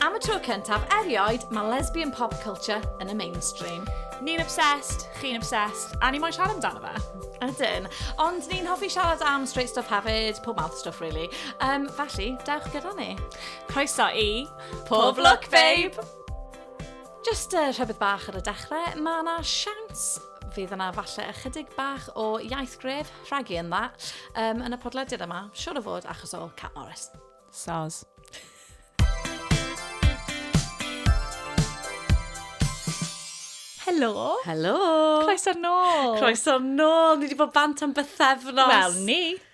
Am y tro cyntaf erioed, mae lesbian pop culture yn y mainstream. Ni'n obsessed, chi'n obsessed, a ni moyn siarad amdano fe. Ydyn. Ond ni'n hoffi siarad am straight stuff hefyd, pob mouth stuff really. Um, felly, dewch gyda ni. Croeso i... Pob Look Babe! Jyst uh, rhywbeth bach ar y dechrau, mae yna siawns fydd yna falle ychydig bach o iaith gref rhagu yn dda um, yn y podlediad yma, siwr o fod achos o Cat Morris. Soz. Helo. Helo. Croeso'r nôl. Croeso'r nôl. Ni wedi bod bant am bythefnos. Wel, ni.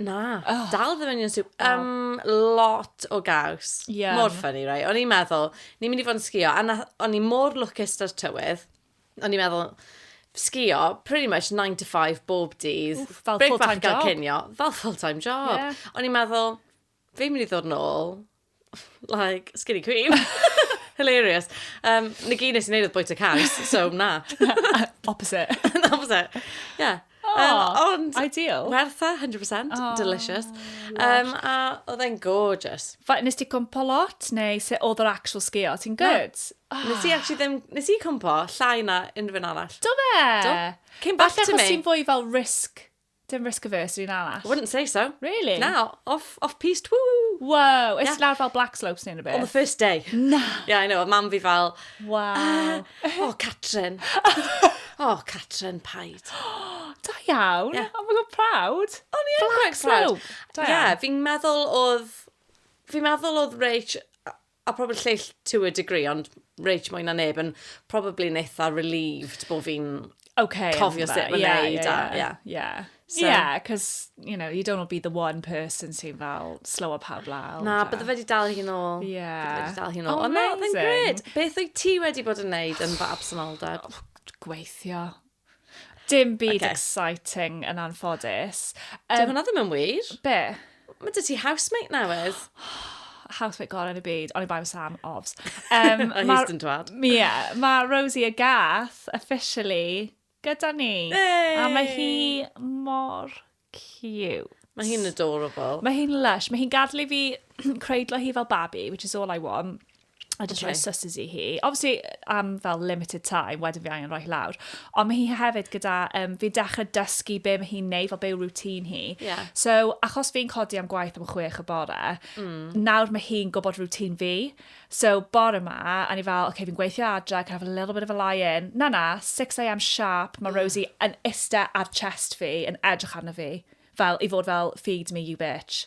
Na, oh. dal ddim yn YouTube. Um, lot o gaws. Yeah. Mor ffynnu, rai. O'n i'n meddwl, ni'n mynd i fod yn sgio, a o'n i mor lwcus ar tywydd. O'n i'n meddwl, sgio pretty much 9 to 5 bob dydd. Fel full-time job. Cinio, fel full-time job. Yeah. O'n i'n meddwl, Fi'n mynd i ddod nôl, like, skinny queen. Hilarious. Um, na gyd nes i wneud oedd bwyta cars, so na. Opposite. na, fos e. Ie. Oh, um, ond... Ideal. Wertha, 100%. Oh, delicious. Um, a oedd e'n gorgeous. Fa, nes ti cwmpo lot, neu se oedd yr actual sgio? Ti'n good? Na. Oh. Nes i actually ddim... Nes i cwmpo llai na unrhyw un arall. Do fe? Do. Came back Falle to me. Falle chos ti'n fwy fel risk Dim risk averse i'n arall. I wouldn't say so. Really? Na, off, off piste, woo! Wow, ys yeah. lawr fel black slopes neu'n rhywbeth? On the first day. Na! Yeah, I know, a mam fi fel... Wow. Uh, oh, Catrin. oh, Catrin, paid. da iawn. Yeah. Oh my god, proud. Oh, ni am quite proud. Da iawn. Yeah, fi'n meddwl oedd... Fi'n meddwl oedd Rach a probably lleill to a degree, ond reit mwy na neb yn probably yn eitha relieved bod fi'n okay, cofio sut mae'n yeah, neud. Yeah, yeah. yeah. yeah. So, yeah, because, you know, you don't want to be the one person sy'n fel slow up pawb lawr. Na, bydde fe wedi dal hi'n ôl. Yeah. Bydde fe wedi dal hi'n ôl. Oh, amazing. Ond na, gred. Beth wyt ti wedi bod yn neud yn fy absenoldeb? Oh, gweithio. Dim byd okay. exciting yn anffodus. Um, Dwi'n hwnna ddim yn wir. Be? Mae dy ti housemate newydd. housemate gorau yn y byd, ond i bai Sam, obs. Um, a he's dyn dwad. Ie, mae Rosie a Gath officially gyda ni. Hey! A mae hi mor Cute. Mae hi'n adorable. Mae hi'n lush. Mae hi'n gadw i fi creidlo hi fel babi, which is all I want. A just okay. rhoi suses i hi. Obviously, am fel limited time, wedyn fi angen rhoi lawr. Ond mae hi hefyd gyda, um, fi'n dechrau dysgu be mae hi'n neud, fel be yw routine hi. Yeah. So, achos fi'n codi am gwaith am chwech y bore, mm. nawr mae hi'n gwybod routine fi. So bore 'ma, o'n i fel, ok, fi'n gweithio adre, I can have a little bit of a lie in. Na, na, 6am sharp, mae Rosie yn iste ar chest fi, yn edrych arno fi, fel, i fod fel, feed me, you bitch.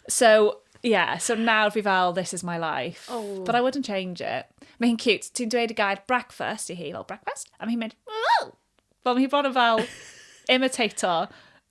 So, ie, so nawr fi fel, this is my life. But I wouldn't change it. Mae hi'n cute. Ti'n dweud y gair breakfast i hi, fel, breakfast? A mae hi'n mynd, ww! Wel, mae hi bron yn fel imitator.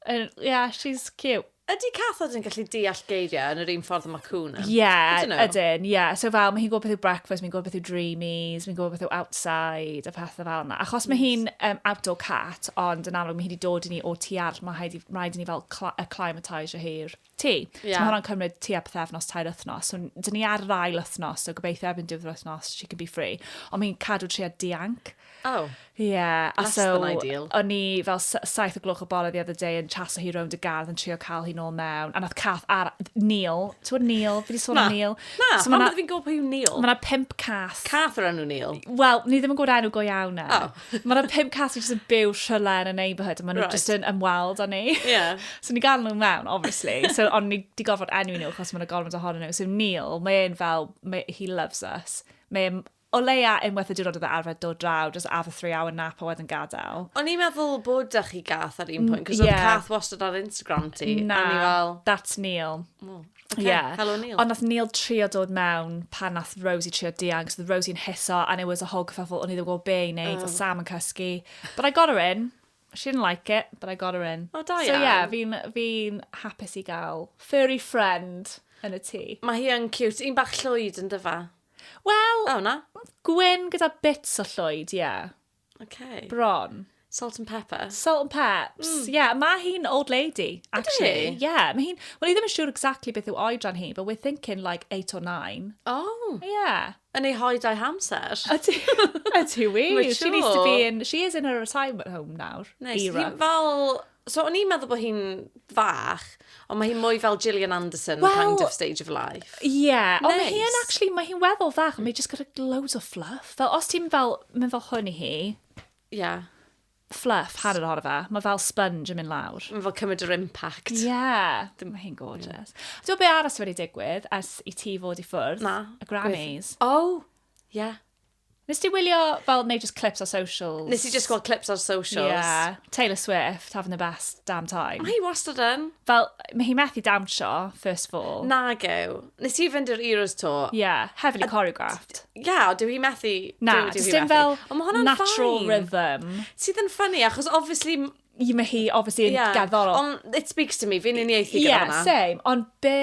And, yeah, she's cute. Ydy cathod yn gallu deall geiriau yn yr un ffordd y mae cwn yn? Ie, I don't know. ydyn, ie. So fel, mae hi'n gwybod beth yw breakfast, mae'n gwybod beth yw dreamies, mae'n gwybod beth yw outside, a pethau fel yna. Achos mae hi'n um, outdoor cat, ond yn amlwg mae hi wedi dod i ni o tu all, mae rhaid i- mae rhaid i ni fel cla- acclimatisio hi'r ti. Yeah. So mae hwnna'n cymryd tua pethefnos, tair wythnos. So, dyn ni ar yr ail wythnos, so gobeithio erbyn diwedd yr wythnos, she can be free. Ond mi'n cadw tria dianc. Oh. Yeah. Less so, than ideal. O'n ni fel saith o gloch o bore the other day yn chaso hi rownd y gardd yn trio cael hi nôl mewn. A nath cath ar Neil. Ti'n bod Neil? Fi di sôn am Neil. Na, so, pan fi'n gwybod pwy yw Neil. Mae yna pimp cath. Cath o'r enw Neil? Wel, ni ddim yn gwybod enw go iawn e. Oh. Mae yna pum cat sy'n yn byw rhywle yn y neighbourhood, a maen nhw right. just yn ymweld â ni. Yeah. so ni gael nhw mewn, obviously. So, ond ni di gorfod enwi nhw, chos mae'n gorfod ohonyn nhw. So Neil, mae'n fel, mae, he loves us. Mae'n o leia unwaith y diwrnod oedd e arfer dod draw, just have a three hour nap a wedyn gadael. O'n i'n meddwl bod da chi gath ar un pwynt, cos yeah. oedd cath wastad ar Instagram ti. Na, fel... that's Neil. Oh, Okay, yeah. Helo Neil. Ond nath Neil trio dod mewn pan nath Rosie trio diang, so oedd Rosie'n hiso, and it was a whole kerfuffle, o'n i ddim gwybod be i wneud, oh. oedd Sam yn cysgu. But I got her in. She didn't like it, but I got her in. Oh, da iawn. So yeah, fi'n fi hapus i gael furry friend yn y tŷ. Mae hi yn cute. Un bach llwyd yn dyfa. Wel, oh, na. gwyn gyda bits o llwyd, ie. Yeah. Okay. Bron. Salt and pepper. Salt and peps. Mm. Yeah, mae hi'n old lady, actually. Yeah, mae hi'n... Wel, i ddim yn siŵr exactly beth yw oedran hi, but we're thinking like 8 or 9. Oh. Yeah. Yn ei hoed a'i hamser. Ydy, ydy wir. She needs to be in... She is in her retirement home nawr. Nice. Era. Fel So o'n i'n meddwl bod hi'n fach, ond mae hi'n mwy fel Gillian Anderson well, kind of stage of life. Ie, yeah. nice. ond mae hi'n actually, mae hi'n weddol fach, mae hi'n just gyda loads o fluff. Fel os ti'n fel, mynd fel hwn i hi. Ie. Yeah. Fluff, hanner ohono fe. Mae fel sponge yn mynd lawr. Mae fel cymryd yr impact. Ie. Yeah. Dim mae hi'n gorgeous. Yeah. Dwi'n be aros wedi digwydd as i ti fod i ffwrdd? Na. Y Grammys. Gwyth. Oh, ie. Yeah. Nes ti wylio fel, neu just clips ar socials? Nes i just gweld clips ar socials. Yeah. Taylor Swift, having the best damn time. Mae hi wastad yn. Fel, mae hi methu dawnsio, first of all. Nag yw. Nes i fynd i'r Euros to. Yeah, heavily choreographed. Yeah, o, dyw hi methu. Na, dyw hi methu. Fel, natural rhythm. Sydd yn ffynnu, achos obviously Y mae hi, obviously, yn yeah. gerddorol. Ond it speaks to me, fi'n uniaethu gyda yeah, hwnna. same. Ond be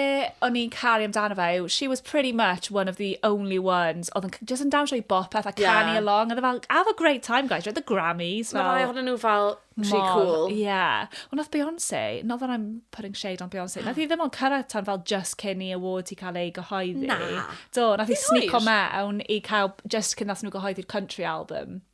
o'n i'n caru amdano fe yw, she was pretty much one of the only ones oedd yn just yn dawnsio i bop peth a yeah. canu along. Oedd e fel, have a great time, guys, you're at the Grammys. Mae rai ohonyn nhw fel rhy cool. Yeah. Ond oedd Beyoncé, not that I'm putting shade on Beyoncé, nath i ddim ond cyrraedd tan fel just cyn i award i cael ei gyhoeddi. Na. Do, nath i sneak o mewn i cael just cyn nath nhw gyhoeddi'r country album.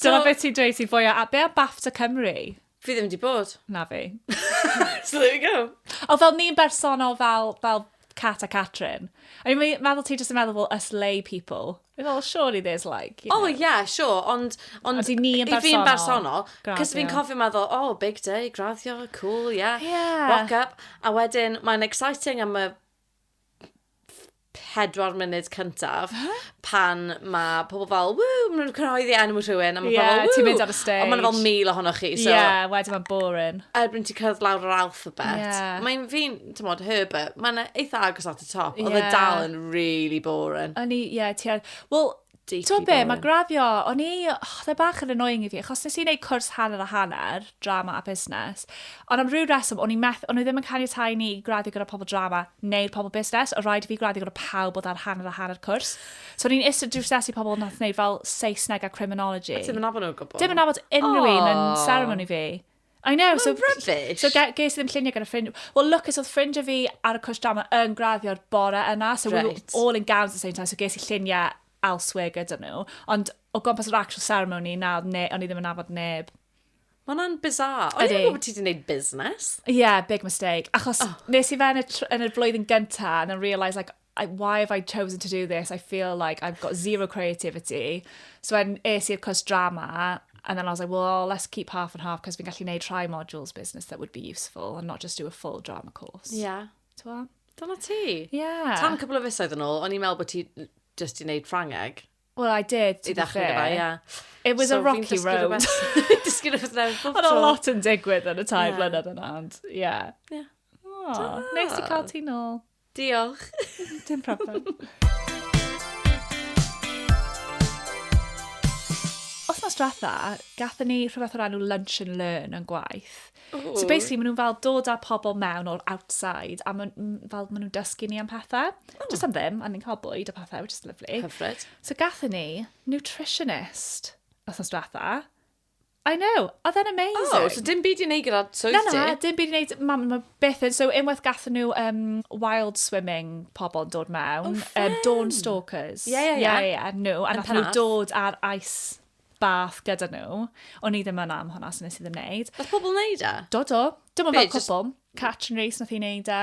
Dyna beth ti'n dweud sy'n fwyaf... A be am BAFTA Cymru? Fi ddim wedi bod. Na fi. so there we go. O, fel ni'n bersonol fel, fel Cat a Catrin. I mean, mae'n meddwl ti jyst yn meddwl fel us lay people. Mae'n meddwl, surely there's like... You oh, know. Oh, yeah, sure, ond... Ond, ond i ni yn bersonol. I fi'n bersonol. Cos fi'n cofio meddwl, oh, big day, graddio, cool, yeah. Yeah. Walk up. A wedyn, mae'n exciting am y pedwar munud cyntaf pan mae pobl fel, ww, maen nhw'n cyhoeddi enw rhywun, a mae yeah, pobl, ww. ti'n mynd ar y stage. Ond maen fel mil ohonoch chi, so... yeah, wedyn mae'n boring. Erbyn ti'n cyrraedd lawr yr alphabet, yeah. mae'n fi'n, ti'n modd, Herbert, mae'n eitha agos at y top, yeah. oedd y dal yn really boring. O'n i, ie, yeah, ti'n... Wel, Ti gwybod be, mae graddio, o'n i, oh, dda bach yn annoying i fi, achos nes i wneud cwrs hanner a hanner, drama a busnes, ond am rhyw reswm, o'n i meth, o'n i ddim yn caniatau ni graddio gyda pobl drama neu'r pobl busnes, o rhaid i fi graddio gyda pawb bod ar hanner a hanner cwrs. So o'n i'n eistedd drws i pobl yn wneud fel Saesneg a criminology. A ti'n mynd nabod nhw gwybod? Dim yn nabod unrhyw oh. un yn ceremony fi. I know, so... Mae'n rubbish! So ge- ges i ddim lluniau gyda ffrind... Wel, Lucas, oedd ffrind o fi ar y cwrs drama yn graddio'r bore yna, so we were Reit. all in gowns at the same time, so ges i lluniau elsewhere gyda nhw. Ond o gwmpas yr actual ceremony, na, oedd ne, o'n i ddim yn nabod neb. Mae hwnna'n bizarre. O'n i'n Ydi. gwybod bod ti wedi gwneud busnes. Yeah, big mistake. Achos oh. nes i fe yn y, tr- yn y flwyddyn gyntaf, and then realise, like, I, why have I chosen to do this? I feel like I've got zero creativity. So when es i'r cwrs drama, and then I was like, well, let's keep half and half, cos fi'n gallu neud rhai modules business that would be useful, and not just do a full drama course. Yeah. Twa? Dyna ti. Yeah. Tan cwbl o fisoedd yn ôl, o'n i'n meddwl bod ti just i neud Ffrangeg. Well, I did, to I be fair. yeah. It was so a rocky road. Dysgu rhywbeth newydd bob tro. Ond a lot yn digwydd yn y tair yeah. blynedd yna, ond, yeah. Yeah. Oh, nice i cael ti nôl. Diolch. Dim problem. Wthnos diwetha, gathen ni rhywbeth o'r enw Lunch and Learn yn gwaith. Ww. So basically, maen nhw'n fel dod â pobl mewn o'r outside, a maen fel, maen nhw'n dysgu ni am pethau. O. Just am ddim, a ni'n cael bwyd a pethau, which is lovely. Hyfryd. So gathen ni nutritionist wthnos diwetha, I know, oedd e'n amazing. Oh, so dim byd i wneud gyda swydd ti? Na, na, dim byd i wneud, mam, mae beth yn, so unwaith gathen nhw um, wild swimming pobl yn dod mewn, oh, um, dawn stalkers. Ie, ie, ie. Ie, nhw, a nath nhw dod ar ice bath gyda nhw. O'n i ddim yn am hwnna, so nes i ddim wneud. Oedd pobl wneud e? Do, do. Dim ond fel cwpl. Catch and race nath i wneud e.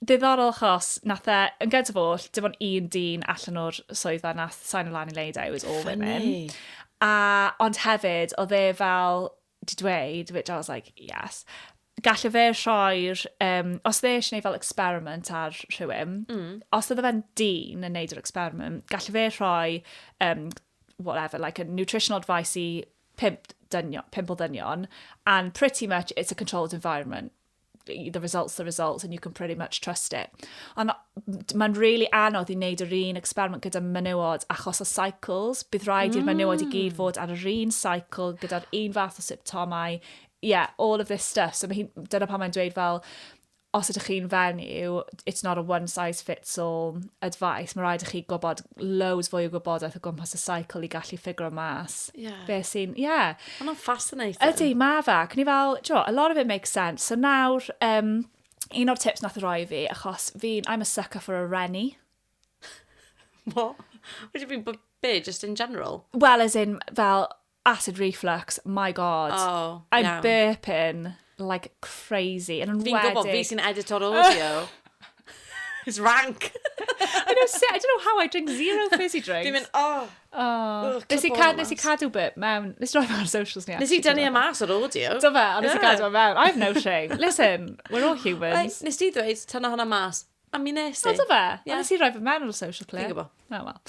Diddorol achos nath e, yn gynt of all, dim ond un dyn allan o'r swyddfa nath sign o lan i wneud e, it was all women. Funny. A, ond hefyd, oedd e fel, di dweud, which I was like, yes, galle fe rhoi'r, um, os oedd e eisiau gwneud fel experiment ar rhywun, mm. os oedd e'n dyn yn gwneud yr experiment, galle fe rhoi, um, whatever, like a nutritional advice i pimp, dynion, pimp o ddynion, and pretty much it's a controlled environment. the results the results and you can pretty much trust it. Ond mae'n really anodd i wneud yr un experiment gyda menywod achos o cycles. Bydd rhaid mm. i'r menywod i gyd mm. fod ar yr un cycle gyda'r un fath o symptomau. Yeah, all of this stuff. So mae dyna pan mae'n dweud fel, os ydych chi'n fenyw, it's not a one size fits all advice. Mae rhaid i chi gwybod loads fwy o gwybodaeth o gwmpas y cycle i gallu ffigur o mas. Yeah. Be sy'n, yeah. Mae hwnna'n fascinating. Ydy, mae fe, ac ni fel, jo, a lot of it makes sense. So nawr, um, un o'r tips nath roi fi, achos fi'n, I'm a sucker for a renny. What? What do you mean, but be, just in general? Well, as in, fel, acid reflux, my god. Oh, I'm iawn. burping. like crazy. Yn enwedig... Fi'n gwybod, fi sy'n edito'r audio. It's rank! I know, I don't know how I drink zero fizzy drinks. Fi'n mynd, oh! Oh. Nes i, cad, nes i cadw bit mewn, nes roi ar socials ni. Nes i dynnu y mas o'r audio. Do fe, ond nes i cadw mewn. I have no shame. Listen, we're all humans. Nes di ddweud, tyna hwnna mas. A mi nes i. O, do fe? Ie. Ond nes i roi fy mewn ar y social clip. Fi'n gwybod. Oh, well.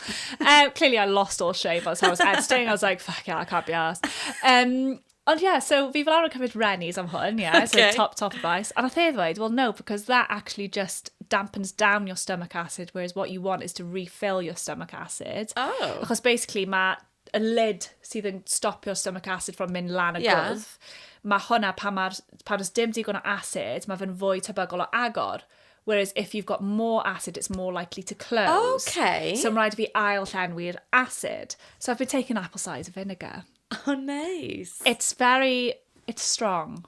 um, clearly I lost all shame by the time I was editing. I was like, fuck yeah, I can't be arsed. Um, ond yeah, so fi fel arfer yn cymryd Rennies am hwn, yeah, so Okay. top, top advice. A nath e ddweud, well no, because that actually just dampens down your stomach acid, whereas what you want is to refill your stomach acid. Oh. Achos basically mae y lid sydd yn stopio stomach acid from mynd lan y yeah. gwddf, mae hwnna pan, ma, pan oes dim digon o acid, mae fe'n fwy tebygol o agor. Whereas if you've got more acid, it's more likely to close. Okay. So mae'n rhaid fi ail llenwi'r acid. So I've been taking apple cider vinegar. Oh, nice. It's very, it's strong.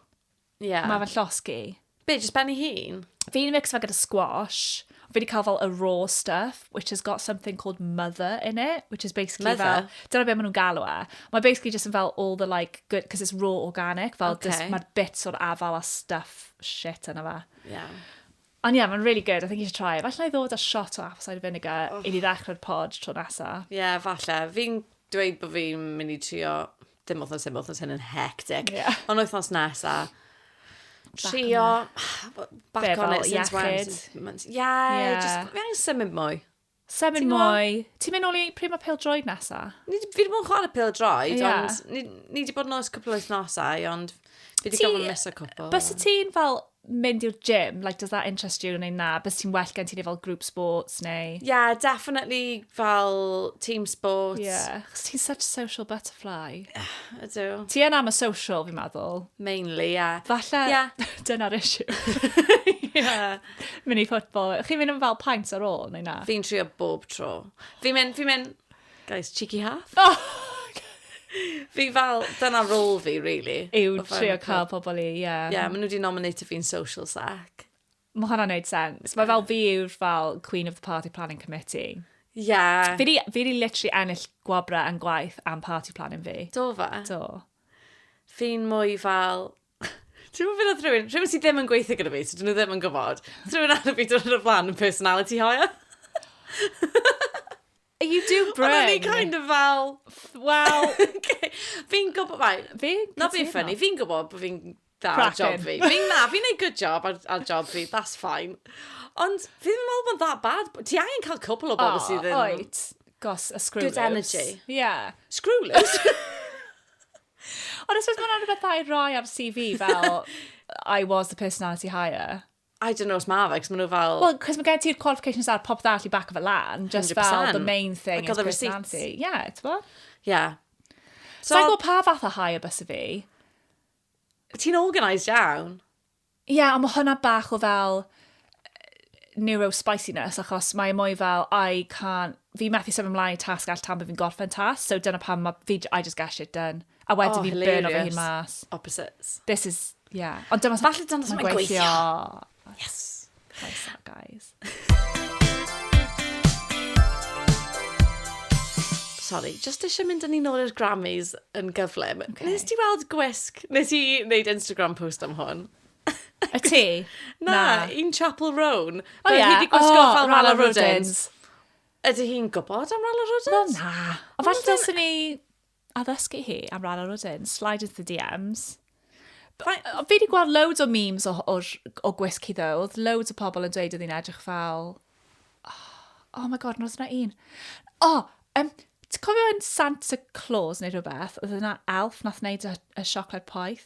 Ie. Mae fy llosg i. Be, jyst ben ei hun? Fi'n mixo fe gyda squash. Fi wedi cael fel y raw stuff, which has got something called mother in it, which is basically fel... Mother? ...dyna be maen nhw'n galw e. Mae basically jyst yn fel all the like good, because it's raw organic, fel jyst... Ok. ...mae'r bits o'r afal a stuff shit yna fe. Ie. Ond ie, yeah, mae'n really good. I think you should try it. Falle i ddod â shot o apple cider vinegar oh. i ni ddechrau'r pod tro nesa. Ie, yeah, falle. Fi'n dweud bod fi'n mynd i trio dim wythnos dim wythnos hyn yn hectic. Yeah. Ond wythnos nesa, trio back on it since Wednesday. Yeah, yeah, just fi angen symud mwy. Sefyll Ti'n gwbod? mwy. Ti'n mynd nôl i pryd mae pêl droed nesa? Ni, fi wedi bod yn chwarae pêl droed, Ie. ond ni, ni wedi bod yn oes cwpl o wythnosau, ond fi wedi Ti- gofyn mis y cwpl. Bys y ti'n fel mynd i'r gym, like, does that interest you neu na? Bys ti'n well gen ti neu fel group sports neu... Yeah, definitely fel team sports. Yeah. Chos ti'n such a social butterfly. Ydw. Ti yn am y social, fi'n meddwl. Mainly, yeah. Falle, Yeah. dyna'r issue. yeah. Mini football. Chi'n mynd yn fel paint ar ôl, neu na? Fi'n trio bob tro. Fi'n mynd, fi'n mynd, guys, cheeky half. Oh! fi fel, dyna rôl fi, really. Yw trio cael pobl i, ie. Yeah. Ie, yeah, maen nhw wedi nominate fi'n social sack. Mae hwnna'n neud sens. Mae fel fi yw'r fel Queen of the Party Planning Committee. Ie. Yeah. Fi wedi literally ennill gwabrau yn gwaith am party planning fi. Do fe? Do. Fi'n mwy fel, Ti'n gwybod beth oedd rhywun, rhywun sydd ddim yn gweithio gyda fi, so dyn nhw ddim yn gwybod. Rhywun arall fi dod yn y flan yn personality hire. You do bring. Ond o'n i kind of fel, well, fi'n gwybod, right, fi, na fi'n ffynnu, fi'n gwybod bod fi'n da ar job fi. Fi'n na, fi'n ei good job ar, ar job fi, that's fine. Ond fi ddim yn meddwl bod that bad. Ti angen cael cwpl o bobl oh, sydd yn... Oed, gos, a screw Good energy. Yeah. Screw loose. Ond I suppose mae hwnna'n rhywbeth dda i roi ar CV fel I was the personality hire. I don't know os mae fe, cos maen nhw fel... Wel, cos mae gen ti'r qualifications ar popeth all i back of a lan, just fel the main thing is personality. Ie, yeah, ti'n bo? Ie. Yeah. So, Sa'n gwybod pa fath o hire bys y fi. Ti'n organised iawn. Ie, yeah, ond mae hwnna bach o fel neuro-spiciness, achos mae e mwy fel, I can't, fi methu sef ymlaen i tasg all tan bod fi'n gorffen tasg, so dyna pam mae fi, I just get shit done. A wedyn oh, fi'n burn o'r hyn mas. Opposites. This is, yeah. Ond dyma... Falle dyna sy'n gweithio. Yes. Croeso, guys. Sorry, just eisiau mynd yn un o'r i'r Grammys yn gyflym. Okay. Nes ti weld gwisg? Nes i wneud Instagram post am hwn? Y ti? Na, Na. un Chapel Roan. O oh, ie. Yeah. Hi wedi gwisgo oh, fel Rala Rudins. Ydy hi'n gwybod am Rala Rudins? Wel, na. O, falle dylsyn ni A ddysgu hi am ran o'r wedyn, slide into the DMs. Fi wedi gweld loads o memes o, o, o gwisg hi ddo, oedd loads o pobl yn dweud oedd hi'n edrych fel... Oh, oh my god, nos yna un. O, oh, um, ti'n cofio yn Santa Claus neu rhywbeth, oedd yna elf nath wneud y, y siocled poeth?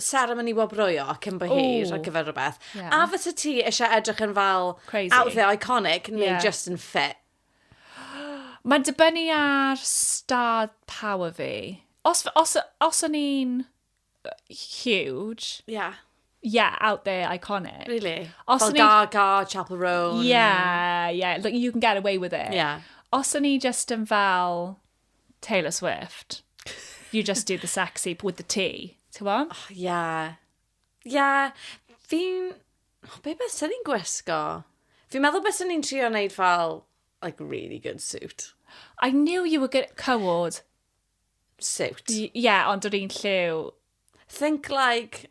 seremoni wobroio cyn bo hir ar gyfer rhywbeth. Yeah. A fysa ti eisiau edrych yn fel Crazy. outfit iconic neu yeah. just yn fit? Mae'n dibynnu ar star power fi. Os, os, os o'n i'n huge... Yeah. Yeah, out there, iconic. Really? Os Fel Gaga, Chapel Roan. Yeah, yeah. Like, you can get away with it. Yeah. Os o'n i just yn fel Taylor Swift. You just do the sexy with the tea. Ti'n bo? Oh, ia. Ia, fi'n... Oh, be beth sy'n ni'n gwisgo? Fi'n meddwl beth sy'n ni'n trio wneud fel, like, really good suit. I knew you were good at cywod. Suit. Ie, yeah, ond o'r un lliw. Think like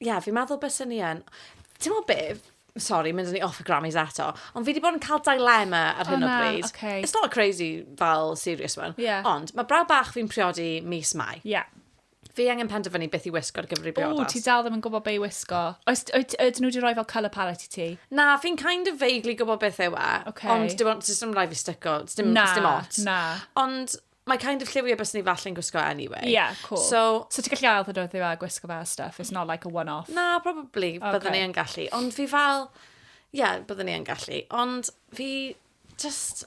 yeah, fi'n meddwl bys ni yn. Ti'n meddwl be? Sorry, mynd ni off y Grammys eto. Ond fi wedi bod yn cael dilema ar hyn o bryd. Oh, okay. It's not a crazy fel serious one. Yeah. Ond mae braw bach fi'n priodi mis mai. Yeah. Fi angen penderfynu beth i wisgo ar gyfer i briodas. O, ti dal ddim yn gwybod be i wisgo. Oes, ydyn nhw wedi rhoi fel colour palette i ti? Na, fi'n kind of vaguely gwybod beth yw e. Okay. Ond dim ond, dim rhaid fi styco. Dim, na, dim ot. Na. Ond Mae kind of lliwiau bys ni falle'n gwisgo anyway. Ie, yeah, cool. So, so ti'n gallu ail ddod oedd a gwisgo fe stuff? It's not like a one-off? Na, probably. Okay. Byddwn ni yn gallu. Ond fi fel... Ie, yeah, byddwn ni yn gallu. Ond fi just...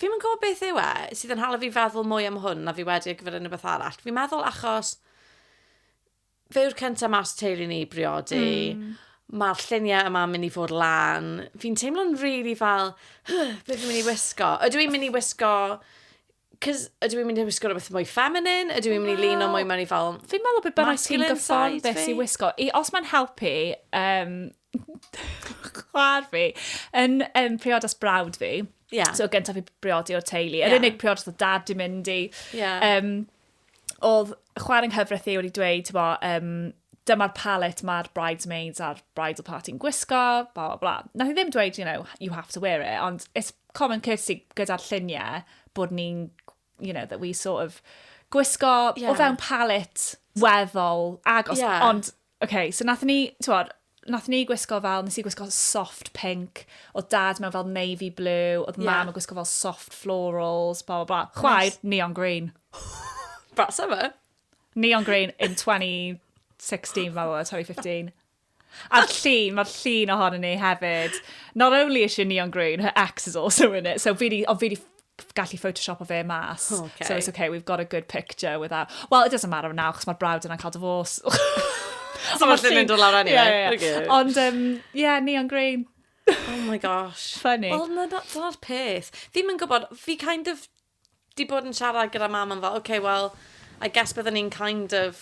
Fi'n mynd gwybod beth yw e sydd yn hala fi feddwl mwy am hwn na fi wedi ar gyfer unrhyw beth arall. Fi'n meddwl achos Fe yw'r cyntaf mas teulu ni i briodi. Mm. Mae'r lluniau yma'n mynd i fod lan. Fi'n teimlo'n rili really fel, huh, beth fi'n mynd i wisgo? Ydw i'n mynd i wisgo... Cys ydw i'n mynd i wisgo rhywbeth mwy feminine? Ydw i'n mynd i lun o mwy mewn i fel... Fi'n meddwl beth bynnag sy'n gyffordd beth sy'n wisgo. I, os mae'n helpu, um, chwar fi, yn um, priodas brawd fi, yeah. so gyntaf fi briodi o'r teulu, yr yeah. unig priodas o dad di mynd i, yeah. um, oedd chwarae yng nghyfraith i wedi dweud, ti'n bo, um, dyma'r palette mae'r bridesmaids a'r bridal party yn gwisgo, bla bla bla. Nath i ddim dweud, you know, you have to wear it, ond it's common courtesy gyda'r lluniau bod ni'n, you know, that we sort of gwisgo yeah. o fewn palette weddol agos, yeah. ond OK, so nath ni, t'mod, nath ni gwisgo fel, nes i gwisgo soft pink, o dad mewn fel navy blue, oedd yeah. mam yn gwisgo fel soft florals, bla bla bla. Chwaer, nice. neon green. That's ever. Neon green in 2016, fel 2015. A'r llun, mae'r llun ohonyn ni hefyd. Not only is she neon green, her ex is also in it. So fi di, o fi di gallu photoshopo fe mas. Oh, okay. So it's okay, we've got a good picture without... Well, it doesn't matter now, chos mae'r brawd yna'n cael divorce. so mae'n llun mynd o lawr anyway. Yeah, yeah. Okay. Ond, um, yeah, neon green. oh my gosh. Funny. Wel, no, dyna'r peth. Fi'n mynd gwybod, fi kind of di bod yn siarad gyda mam yn fel, okay, well, I guess byddwn ni'n kind of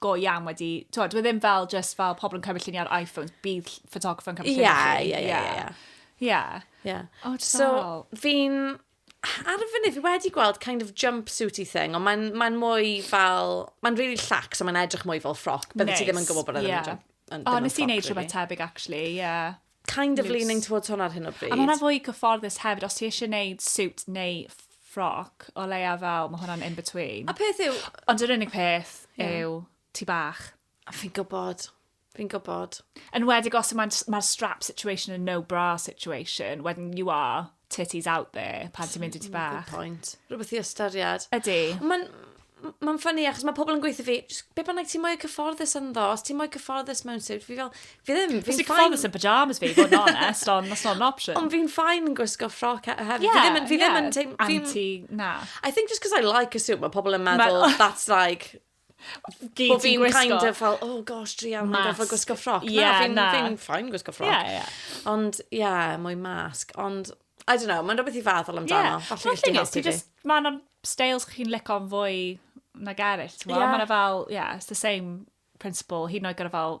go iawn wedi, ti'n dwi e ddim fel just fel pobl yn cymryd lluniau ar iPhones, bydd ffotograffer yn cymryd lluniau chi. Ie, ie, ie, ie. Ie. Ie. Oh, so, fi'n, ar y funud, fi wedi gweld kind of jumpsuity thing, ond mae'n mae mwy fel, mae'n really llac, so mae'n edrych mwy fel ffroc, bydde nice. ti ddim yn gwybod bod e'n yeah. yn, yn, oh, nes i wneud rhywbeth tebyg, actually, ie. Yeah. kind of leaning towards hwnna ar hyn o bryd. A mae hwnna'n fwy cyfforddus hefyd, os ti eisiau gwneud suit neu ffroc, o leia fel, mae hwnna'n in between. A peth yw... Ond yr unig peth yeah. yw ti bach. A fi'n gwybod. Fi'n gwybod. Yn wedig os mae'r mae strap situation yn no bra situation, wedyn you are titties out there pan ti'n mynd i ti bach. Good point. Rhywbeth i ystyried. Ydy. Mae'n mae'n ffynnu achos mae pobl yn gweithio fi, be bynnag ti'n mwy cyfforddus yn ddo, os ti'n mwy cyfforddus mewn sut, fi fel, fi ddim, fi'n ffain... cyfforddus yn pyjamas fi, fod yn honest, ond that's not an option. Ond fi'n ffain yn gwisgo ffroc hefyd, yeah, fi ddim yn, fi yeah. ddim yn teim... Anti, na. I think just because I like a suit, mae pobl yn meddwl, that's like, Gyd ti'n gwisgo. Bo fi'n kind of fel, oh gosh, druan, mae'n goffa gwisgo ffroc. Yeah, na, fi'n na. fi ffain gwisgo ffroc. Yeah, yeah. Ond, ie, yeah, mwy masg. Ond, I don't know, mae'n rhywbeth i feddwl amdano. Yeah. Falle gysdi helpu fi. Just, mae yna styles chi'n lico'n fwy na gerys. Yeah. Mae yna fel, yeah, it's the same principle. Hyd yn oed gyda fel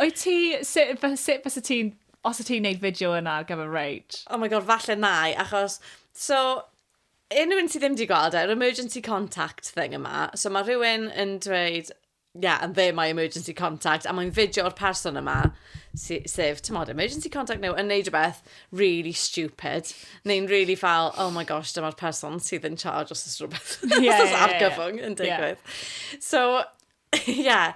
Wyt ti, sut, sut fysa ti'n, os ti'n neud fideo yna ar gyfer Rage? Oh my god, falle nai, achos, so, unrhyw un sydd ddim wedi gweld e, yr emergency contact thing yma, so mae rhywun yn dweud, yeah, and they're my emergency contact, a mae'n fideo o'r person yma, si, sef, ti'n modd, emergency contact nhw, yn neud rhywbeth really stupid, neu'n really fel, oh my gosh, dyma'r person sydd yn charge os oes rhywbeth, yeah, os oes yeah, argyfwng yeah, yn digwydd. Yeah. So, yeah,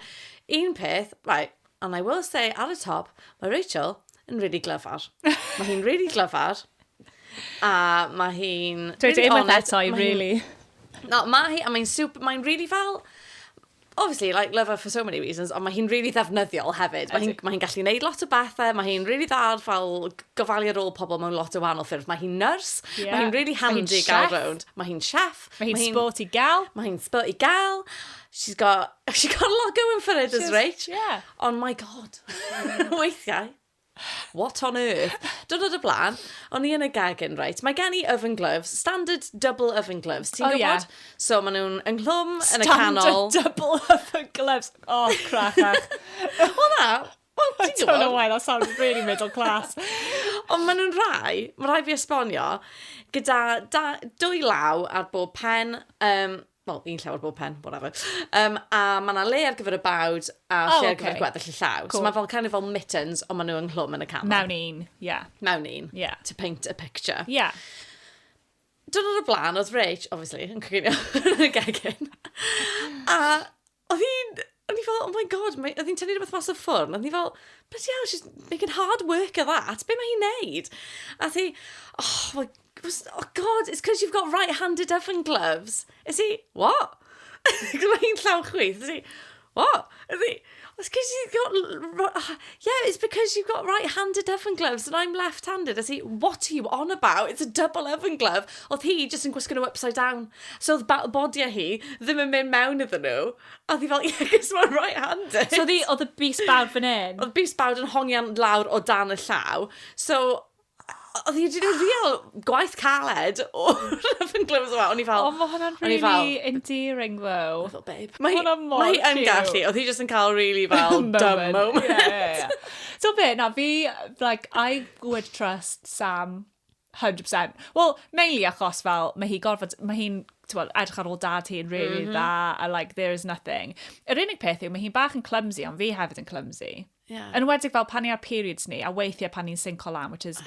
un peth, right, and I will say at the top, mae Rachel yn really glyfar. mae hi'n really glyfar. A mae hi'n... Dwi really ddim yn eto i, really. No, mae hi, a mae'n super, mae'n really fel... Obviously, like, love her for so many reasons, ond mae hi'n really ddefnyddiol hefyd. Mae hi'n mae gallu gwneud lot o bethau, mae hi'n really dda ar fel gofalu ar ôl pobl mewn lot o wahanol ffyrdd. Mae hi'n nyrs, yeah. mae hi'n really handy gael rownd. Mae hi'n chef. Mae hi'n hi sporty gal. Mae hi'n sporty gal. She's got, she's got a lot going for her, does right? Yeah. Ond my god, weithiau, what on earth? Dwrnod y blaen, o'n i yn y gegin, right? Mae gen i oven gloves, standard double oven gloves, ti'n oh, gwybod? Yeah. So maen nhw'n ynghlwm yn y canol. Standard double oven gloves, oh crachach. Wel na, Well, I don't know why that sounded really middle class. Ond maen nhw'n rhai, mae rhai fi esbonio, gyda da, dwy law ar bob pen, um, wel, un llaw ar bob pen, whatever. Um, a mae yna le ar gyfer y bawd a oh, lle okay. ar gyfer gweddill y llaw. Cool. So mae fel kind of fel mittens, ond maen nhw ynghlwm yn y camera. Mewn un, ie. Yeah. Mewn un, yeah. to paint a picture. Ie. Yeah. Dwrnod y blaen, oedd Rach, obviously, yn coginio yn y gegin. a Oedd hi'n... O'n i fel, oh my god, mae... oedd hi'n tynnu rhywbeth mas o ffwrn, o'n i fel, bloody hell, she's making hard work of that, be mae hi'n neud? A ti, oh my, was, oh god, it's because you've got right-handed oven gloves. Is he, what? Gwyd mae hi'n llaw chwith, is he, what? Is he, it's because you've got, ah, yeah, it's because you've got right-handed oven gloves and I'm left-handed. Is he, what are you on about? It's a double oven glove. Oedd hi just yn gwisgo nhw upside down. So oedd ba- bodia hi ddim yn mynd mewn iddyn nhw. A oedd hi fel, yeah, cos mae'n right handed. So oedd hi, oedd y bus bawd fan hyn. Oedd bus bawd yn hongian lawr o dan y llaw. So, oedd hi wedi gwneud real gwaith caled o Love and Glows yma. O'n i fel... O, mae hwnna'n O'n i fel- really endearing, though. Oedd o, babe. Mae hi, Hwnna mor mae hi yn cute. gallu. Oedd hi just yn cael really fel dumb moment. Yeah, yeah, yeah. So be, na, fi, like, I would trust Sam 100%. Wel, mainly achos fel, mae hi gorfod, mae hi'n, ti'n edrych ar ôl dad hi'n really mm -hmm. dda, a like, there is nothing. Yr unig peth yw, mae hi'n bach yn clumsy, ond fi hefyd yn clumsy. Yeah. Yn wedig fel pan ni ar periods ni, a weithiau pan ni'n sinco lan, which is,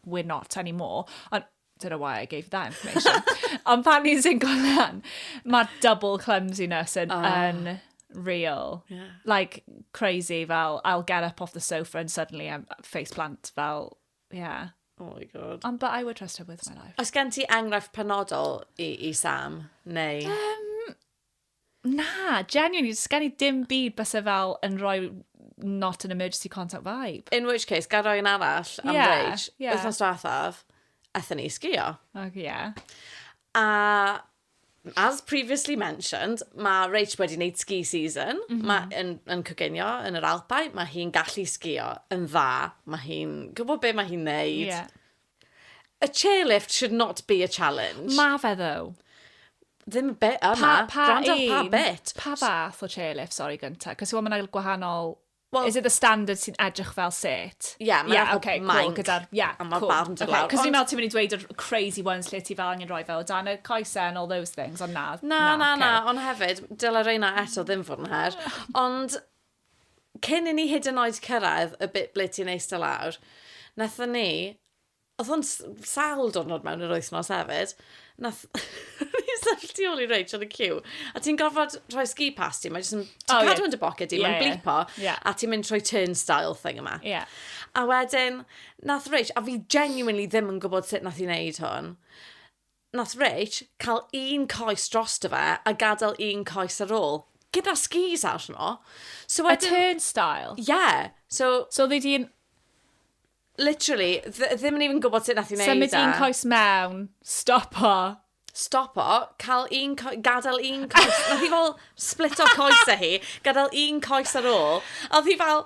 we're not anymore, ond don't know why I gave that information. ond pan ni'n sinco lan, mae double clumsiness yn, oh. yn real. Yeah. Like, crazy, fel, I'll get up off the sofa and suddenly I'm face plant, fel, Ie. Oh my God. Ond but I would trust her with my life. Oes gen ti enghraifft penodol i, i Sam, neu? Um, na, genuinely, does gen i dim byd bys e fel yn rhoi not an emergency contact vibe. In which case, gael rhoi yn arall am yeah, rage. Yeah. Wythnos diwethaf, aethon ni sgio. Ac ie. Yeah. A As previously mentioned, mae Rach wedi wneud ski season. Mm -hmm. Mae yn, yn coginio yn yr Alpau. Mae hi'n gallu sgio yn dda. Mae hi'n gwybod beth mae hi'n neud. Yeah. A chairlift should not be a challenge. Mae fe ddo. Ddim y bit yma. Pa, pa Gwrando un? Pa bit? Pa fath o chairlift, sorry, gyntaf? Cos mae yna gwahanol Wel... Is it the standard sy'n edrych fel set? Ie, mae'n edrych fel manc. Ie, ok, cool, gyda'r... Ie, cool. A ma'r barn dod lawr, ond... Ok, cos o'n i'n meddwl ti'n mynd i ddweud yr crazy ones lle ti fel angen rhoi fe o dan y coesau and all those things, ond na, na, na, ok. Na, na, na, ond hefyd, dyle reina eto ddim fod yn her, ond cyn i ni hyd yn oed cyrraedd y bit ble ti'n eistedd lawr, wnaethon ni Oedd hwn sawl diwrnod mewn yr wythnos hefyd. Nath... Ni'n sefyll tu ôl i Rach yn y cyw. A ti'n gorfod rhoi ski pass ti. Mae jyst yn... Ti'n oh, cadw yeah. yn dy boced di, yeah, mae'n blipo. Yeah. A ti'n mynd trwy turnstile thing yma. Yeah. A wedyn, nath Rach, a fi genuinely ddim yn gwybod sut nath i wneud hwn. Nath Rich cael un coes drosto fe a gadael un coes ar ôl. Gyda skis arno. So wedyn... A turnstile? Ie. Yeah. So... So oedd hi di'n... Literally, ddim yn even gwybod sut nath i wneud e. Symud un coes mewn, stop o. Stop o, cael un coes, gadael un coes. Nath hi fel split o coes e hi, gadael un coes ar ôl. A oedd hi fel,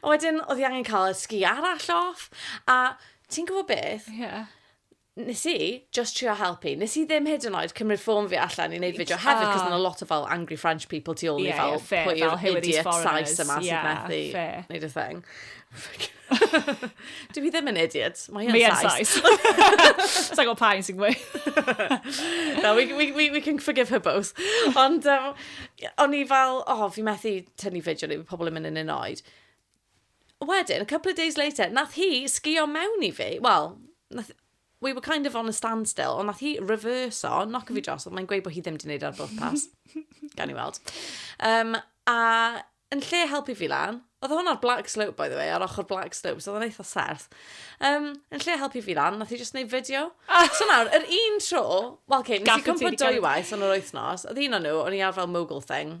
A wedyn, oedd i angen cael y sgi arall off. A ti'n gwybod beth? Ie. Yeah. Nes i just trio helpu. Nes i ddim hyd yn oed cymryd ffôn fi allan i wneud fideo hefyd, cos yna lot o fel angry French people tu ôl i fel pwy yw'r idiot size yma sy'n methu wneud y thing. Dwi fi ddim yn idiot. Mae yn sais. Sa'n gwybod pa un sy'n gwy. no, we, we, we, we can forgive her both. Ond um, o'n i fel, oh, fi methu tynnu fideo ni, pobl yn mynd yn un oed. Wedyn, a couple of days later, nath hi sgio mewn i fi, wel, nath, we were kind of on a standstill, ond nath hi reverse o, knock fi dros, ond mae'n gweud bod hi ddim wedi gwneud ar bwth pas. Gan i weld. Um, a yn lle helpu fi lan, oedd hwn ar Black Slope, by the way, ar ochr Black Slope, so oedd yn eitha serth. Um, yn lle helpu fi lan, nath hi just gwneud fideo. Ah. So nawr, yr un tro, wel, okay, nes i cwmpa dwy waith yn yr wythnos, oedd un o'n nhw, o'n i ar fel mogul thing,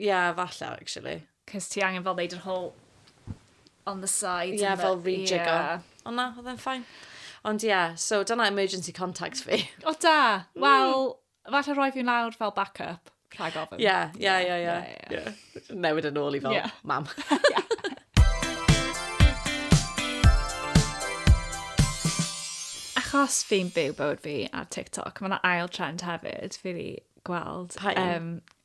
Ie, falle, actually. Cos ti angen fel neud yr whole on the side. Ie, yeah, fel rejig o. Ond na, oedd e'n ffain. Ond ie, yeah, so dyna emergency contacts fi. O da, mm. wel, mm. falle roi fi'n lawr fel backup, rhag ofyn. Ie, ie, ie, ie. Newid yn ôl i fel yeah. mam. Achos fi'n byw bywyd fi ar TikTok, mae'n ail trend hefyd, fi wedi gweld. Pa un? Um,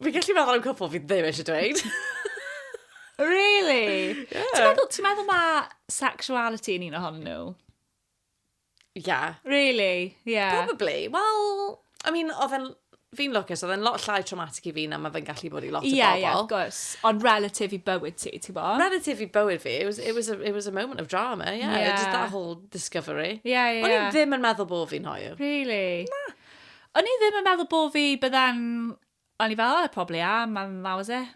Fi'n gallu meddwl am cwpl fi ddim eisiau dweud. Really? Yeah. Ti'n meddwl, ti meddwl mae sexuality yn un ohon nhw? Yeah. Really? Yeah. Probably. Wel, I mean, oedd e'n... Fi'n lwcus, oedd e'n lot llai traumatic i fi na mae fe'n gallu bod i lot o bobl. Ie, ie, gwrs. Ond relatif i bywyd ti, ti'n bo? Relatif i bywyd fi, it was, it was, a, it was a moment of drama, yeah. yeah. Just that whole discovery. Yeah, yeah. O'n i ddim yn meddwl bod fi'n hoiw. Really? Na. O'n i ddim yn meddwl bod fi, bydda'n... O'n i fel, oh, probably am, and that was it.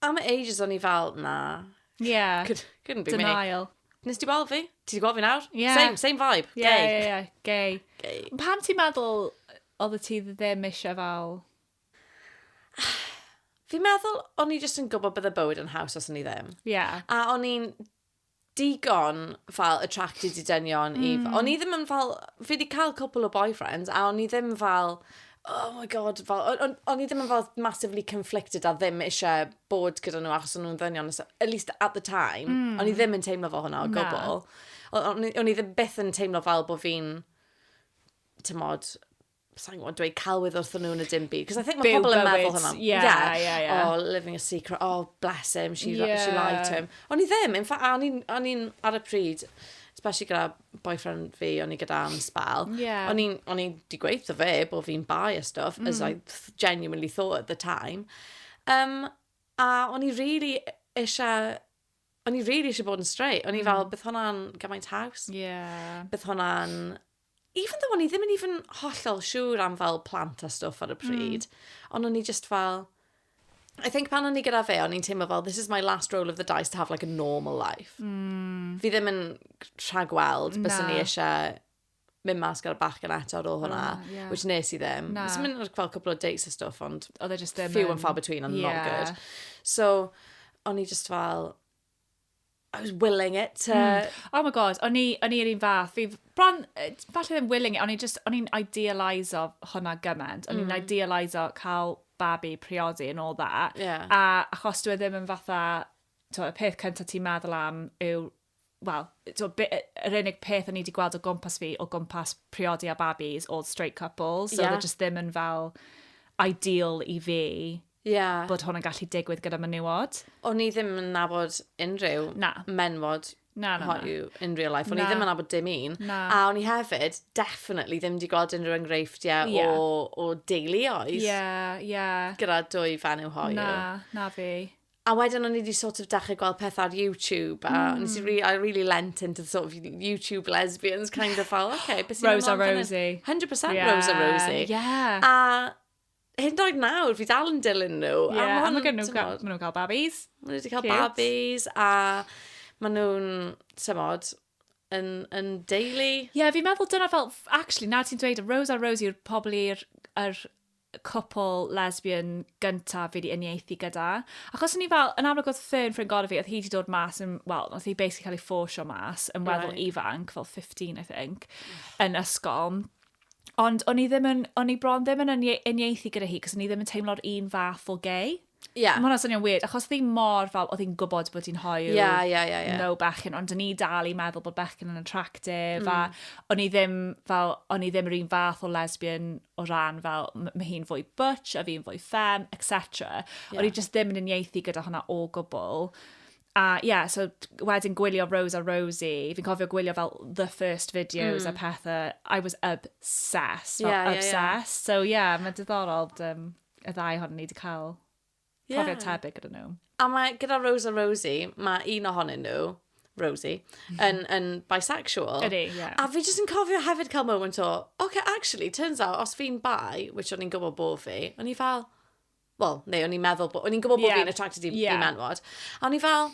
Am ages o'n i fel, na. Yeah. Could, couldn't be Denial. me. Nes ti gweld fi? Ti wedi gweld fi nawr? Yeah. Same, same vibe. Gay. Yeah, yeah, yeah. Gay. Gay. Pam ti'n meddwl oedd ti ddim eisiau fel... Fi'n meddwl, o'n i jyst yn gwybod bydde bywyd yn haws os o'n i ddim. Yeah. A o'n i'n digon fel attracted i dynion mm. i... Hmm. O'n i ddim yn fel... Fi wedi cael cwpl o boyfriends a o'n i ddim fel... Oh my god, fel... O'n on i ddim yn fel massively conflicted a ddim eisiau bod gyda nhw achos o'n nhw'n ddynion. So, at least at the time, mm. o'n i hmm. ddim yn teimlo fo hwnna o gwbl. O'n i ddim byth yn teimlo fel bod fi'n... Tymod, sa'n gwybod, dweud celwydd wrth nhw yn y dim byd. Cos I think mae pobl yn meddwl hwnna. Yeah, yeah, yeah, yeah. Oh, living a secret. Oh, bless him, she, yeah. she lied to him. O'n i ddim, in fact, o'n i'n ar y pryd, especially gyda boyfriend fi, o'n i gyda am spel. Yeah. O'n i'n o'n i di gweud o fe bod fi'n bai a stuff, mm. as I genuinely thought at the time. Um, a o'n i really eisiau o'n i really eisiau bod yn straight. O'n i mm. fel, bydd hwnna'n gymaint haws. Yeah. Bydd hwnna'n even though o'n i ddim yn even hollol siŵr am fel plant a stwff ar y hmm. pryd, mm. ond o'n i just fel... I think pan o'n i gyda fe, o'n i'n teimlo fel, this is my last roll of the dice to have like a normal life. Mm. Fi ddim yn rhagweld, bys o'n i eisiau mynd mas gyda'r bach gan eto ar ôl hwnna, oh, yeah. which nes i ddim. Na. Nes mynd fel cwpl o dates a stwff, ond... Oedd e just ddim few and far between and yeah. not good. So, o'n i just fel, I was willing it to... Mm. Oh my god, o'n i'r un fath. Fi, bron, falle ddim willing it, o'n i'n just, o'n i'n idealiso hwnna gymaint. O'n i'n mm. idealiso cael babi, priodi and all that. Yeah. A achos dwi e ddim yn fatha, to, y peth cyntaf ti'n meddwl am yw wel, yr unig peth o'n i wedi gweld o gwmpas fi, o gwmpas priodi a babis, all straight couples, so yeah. just ddim yn fel ideal i fi Ie. bod hwn yn gallu digwydd gyda menywod. O'n i ddim yn nabod unrhyw... Na. ...menywod Na, na, na. hoyw in real life. O'n i Na. ddim yn nabod dim un. Na. A o'n i hefyd, definitely, ddim wedi gweld unrhyw enghreifftiau Ie. o, o deuluoedd Ie, ie. gyda dwy fenyw hoyw. Na, na fi. A wedyn o'n i wedi sort of dechrau gweld pethau ar YouTube, a mm. nes i re I really lent into the sort of YouTube lesbians kind of fel, okay, beth sy'n Rose a Rosie. 100% Yeah. Rose a Rosie. Yeah. A hyn doed nawr, fi dal yn dilyn nhw. Ie, yeah, a mae gen nhw'n cael, ma nhw cael babis. Mae nhw wedi cael Cute. babis, a maen nhw'n, tymod, yn, yn deulu. Ie, yeah, fi'n meddwl dyna fel, actually, na ti'n dweud, Rose a Rose yw'r pobl i'r er cwpl lesbian gyntaf fi wedi uniaethu gyda. Achos o'n i fel, yn amlwg oedd Fern ffrind gorau fi, oedd hi wedi dod mas, yn, well, oedd hi basically cael ei ffosio mas, yn weddol right. ifanc, fel 15, I think, yn ysgol. Ond o'n i ddim yn, o'n i bron ddim yn uniaethu gyda hi, cos o'n i ddim yn teimlo'r un fath o gay. Yeah. Mae hwnna'n swnio'n weird, achos oedd hi'n mor fel, oedd hi'n gwybod bod hi'n hoyw. Ie, yeah, ie, yeah, ie, yeah, ie. Yeah. No bechgyn, ond o'n i dal i meddwl bod bechgyn yn attractive, mm. a o'n i ddim fel, o'n i ddim yr un fath o lesbian o ran fel, mae hi'n fwy butch, a fi'n fwy fem, etc. Yeah. O'n i just ddim yn uniaethu gyda hwnna o gwbl. A ie, yeah, so wedyn gwylio Rose a Rosie, fi'n cofio gwylio fel the first videos mm. a pethau, I was obsessed, fel yeah, obsessed. Yeah, yeah. So ie, yeah, mae'n diddorol um, y ddau hon ni wedi cael yeah. profiad tebyg gyda nhw. A mae gyda Rose a Rosie, mae un ohonyn nhw, Rosie, mhm. yn, yn bisexual. Ydy, ie. Yeah. A fi jyst yn cofio hefyd cael moment o, okay, actually, turns out, os fi'n bi, which o'n i'n gwybod bod fi, o'n i fel, Wel, neu o'n i'n meddwl, o'n i'n gwybod bod yeah. fi'n attracted i, yeah. i menwod. A o'n i fel,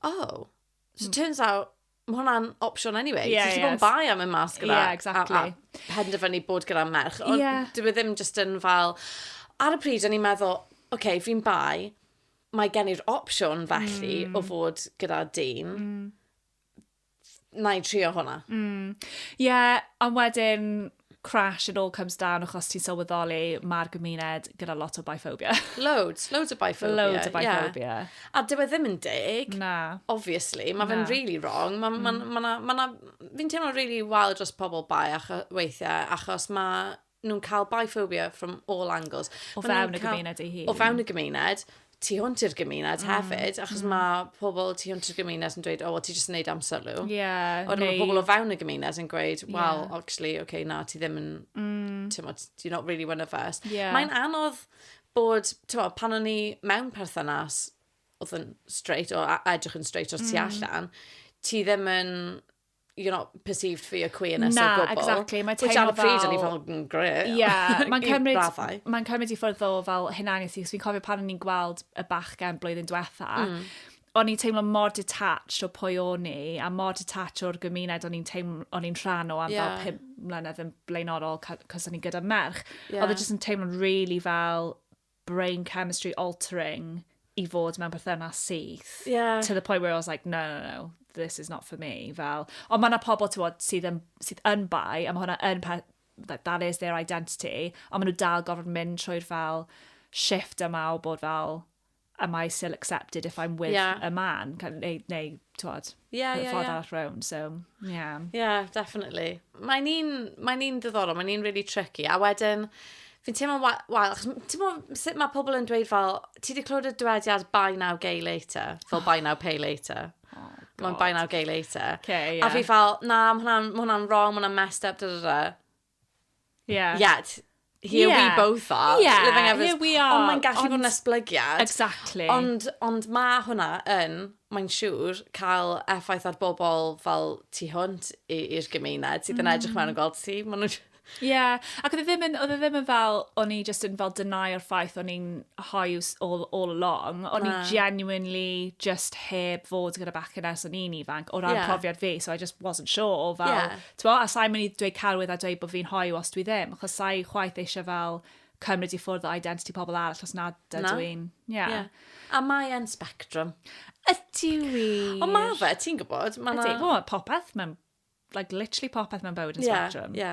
oh, so it turns out, mae hwnna'n opsiwn anyway. Yeah, so, yes. bod yn bai am y mas gyda. Yeah, exactly. A, a penderfynu bod gyda merch. Ond yeah. dwi e ddim just yn fel... Ar y pryd, o'n i'n meddwl, oce, okay, fi'n bai, mae gen i'r opsiwn felly mm. o fod gyda dyn. Mm. na i trio hwnna. Mm. Yeah, ond wedyn, crash, it all comes down, achos ti'n sylweddoli, mae'r gymuned gyda lot o biphobia. Loads, loads o biphobia. Loads o biphobia. Yeah. A dyw e ddim yn deg. Na. Obviously, mae fe'n really wrong. Mae ma, mm. ma, ma, ma, fi'n teimlo really wael dros pobl bai acho, weithiau, achos mae nhw'n cael biphobia from all angles. O fewn y gymuned ei hun. O fewn y gymuned, tu hwnt i'r gymuned mm. hefyd, achos mm. mae pobl tu hwnt i'r gymuned yn dweud, o, oh, well, ti jyst yn neud amser nhw. Yeah, Ond neu... mae pobl o fewn y gymuned yn gweud, well, yeah. actually, okay, na, ti ddim yn, mm. ti'n modd, you're not really one of us. Yeah. Mae'n anodd bod, ti'n modd, pan o'n i mewn perthynas, oedd yn straight, o edrych yn straight o'r tu mm. allan, ti ddim yn you know, perceived for your queerness Na, o gwbl. Na, exactly. Mae teimlo fel... Which ar y pryd o'n i fel, mm, great. Ie, yeah, mae'n cymryd, mae cymryd i ffwrdd o fel hunaniaeth i, fi'n cofio pan o'n i'n gweld y bachgen blwyddyn diwetha, mm. o'n i'n teimlo mor detached o pwy o'n i, a mor detached o'r gymuned o'n i'n teimlo, o'n i'n rhan o am yeah. fel pum mlynedd yn blaenorol, cos o'n i'n gyda merch. Yeah. Oedd e jyst yn teimlo'n really fel brain chemistry altering i fod mewn perthynas syth. Yeah. To the point where I was like, no, no, no, this is not for me. Fel, ond mae yna pobl, ti'n bod, sydd yn, sydd yn bai, a mae hwnna yn peth, that, that is their identity, ond maen nhw dal gorfod mynd trwy'r fel shift yma o bod fel, am I still accepted if I'm with yeah. a man? Neu, neu, ti'n bod, yeah, yeah, ffordd yeah. arall round, so, yeah. Yeah, definitely. Mae'n un, mae un ddiddorol, mae'n un really tricky, a wedyn, fi'n teimlo, wael, ti'n teimlo sut mae pobl yn dweud fel, ti wedi clywed y dywediad buy now, gay later, fel oh. buy now, pay later. Oh, Mae'n buy now, gay later. Okay, yeah. A fi fel, na, mae hwnna'n hwnna wrong, mae hwnna'n messed up, da da da. Yeah. Yeah, here yeah. we both are. Yeah, living ever... here we are. Ond mae'n gallu ond... fod yn esblygiad. Exactly. Ond, ond mae hwnna yn, mae'n siŵr, cael effaith ar bobl fel tu hwnt i'r gymuned sydd yn mm. edrych mewn yn gweld ti. Maen nhw'n Ie, yeah. ac oedd e ddim yn, oedd e ddim yn fel, o'n i just yn fel deny o'r ffaith o'n i'n hoiw all, all along, o'n i genuinely just heb fod gyda bachgen ers o'n i'n ifanc, o ran yeah. profiad fi, so I just wasn't sure, fel, yeah. Tibod, a sa i'n mynd i dweud celwydd a dweud bod fi'n hoyw os dwi ddim, achos sa i chwaith eisiau fel cymryd i ffwrdd o identity pobl arall os nad ydw Na. i'n... Ie. Yeah. Ie. A mae e'n spectrum. Ydy wir. Ond mae fe, ti'n gwybod, mae Ydy, na... wel, mae popeth mewn, like, literally popeth mewn bywyd yn Ie, spectrum. ie.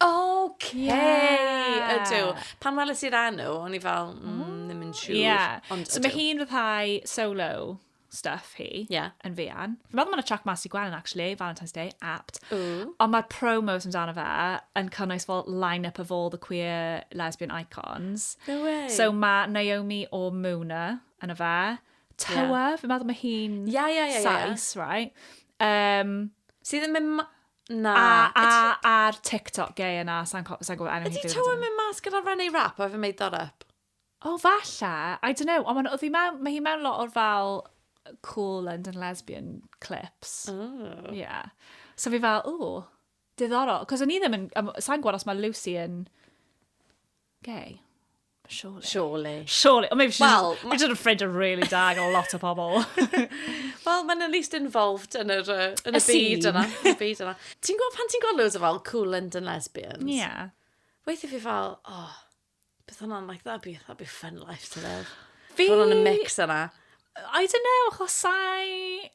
Oce! Yeah. Ydw. Pan weles i'r enw, o'n i fel, mm, ddim yn siŵr. Yeah. Ond So mae ydw. hi'n rhyddhau solo stuff hi Ie. yn fuan. Fi'n meddwl mae yna track mas i Gwenyn, actually, Valentine's Day, apt. Ww. Ond mae'r promos amdano fe yn cynnwys fel line-up of all the queer lesbian icons. No way. So mae Naomi o Muna yn y fe. Tywa, fi'n meddwl mae hi'n Ie, ie, ie, ie, ie. Sais, right? Um, Sydd yn mynd... ma- Na, a, a, a'r TikTok gay yna, sa'n gwybod enw hi. Ydy Toa mynd mas gyda René Rap, a fe made that up? O, oh, falle. I don't know. Ond oedd hi mewn, mae hi mewn lot o'r fel cool London lesbian clips. Oh. Yeah. So fi fel, o, diddorol. Cos o'n i ddim yn, sa'n gwybod os mae Lucy yn gay. Surely. Surely. Surely. Or maybe she's, well, ma... she's afraid of really dag a lot of pobl. Wel, mae'n at least involved yn, yr, uh, yn y, y byd yna. y byd yna. Ti'n gwybod pan ti'n gweld loads o fel cool London lesbians? Ie. Yeah. Weithio fi fel, oh, beth hwnna'n like, that'd be, that'd be fun life to live. Fi... Fod yn y mix yna. I don't know, achos sai...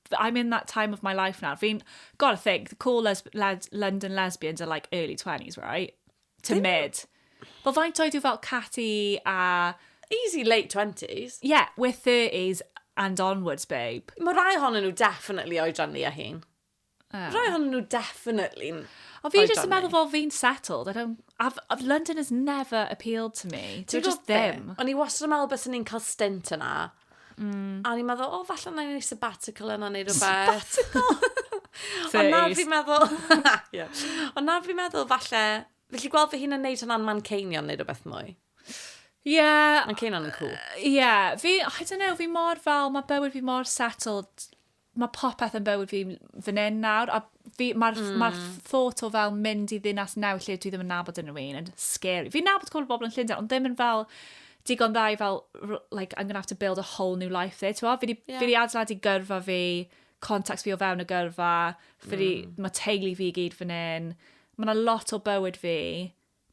I'm in that time of my life now. Fi'n, gotta think, the cool lesb led London lesbians are like early 20s, right? To Dim- mid. Wel, faint oedd yw fel Catty a... Easy late 20s. Yeah, we're 30s and onwards, babe. Mae rhai ohonyn nhw definitely oedran ni a hun. Oh. Rhai ohonyn nhw definitely... O, fi jyst yn meddwl fel fi'n settled. I don't... I've, I've, London has never appealed to me. Ti'n Ti'n gwybod just be? ddim. O'n i wastad yn meddwl bys ni'n cael stint yna. Mm. A ni'n meddwl, o, falle na i wneud sabbatical yna neu rhywbeth. Sabbatical? Ond nawr fi'n meddwl... yeah. Ond nawr fi'n meddwl, falle... Felly gweld fy hun yn neud hwnna'n man ceinion neu rhywbeth mwy. Ie. Yeah, man ceinion yn cool. Ie. Yeah, fi, I don't know, fi mor fel, mae bywyd fi mor settled mae popeth yn bywyd fi fan hyn nawr, a fi, mae'r mm. ma hmm. thought o fel mynd i ddinas newydd lle dwi ddim yn nabod yn rhywun yn scary. Fi'n nabod cwbl bobl yn Llundain, ond ddim yn fel digon dda i fel, like, I'm gonna have to build a whole new life there, ti'n Fi yeah. fi di adeiladu gyrfa fi, contacts fi o fewn y gyrfa, fi mm. mae teulu fi gyd fan hyn. Mae yna lot o bywyd fi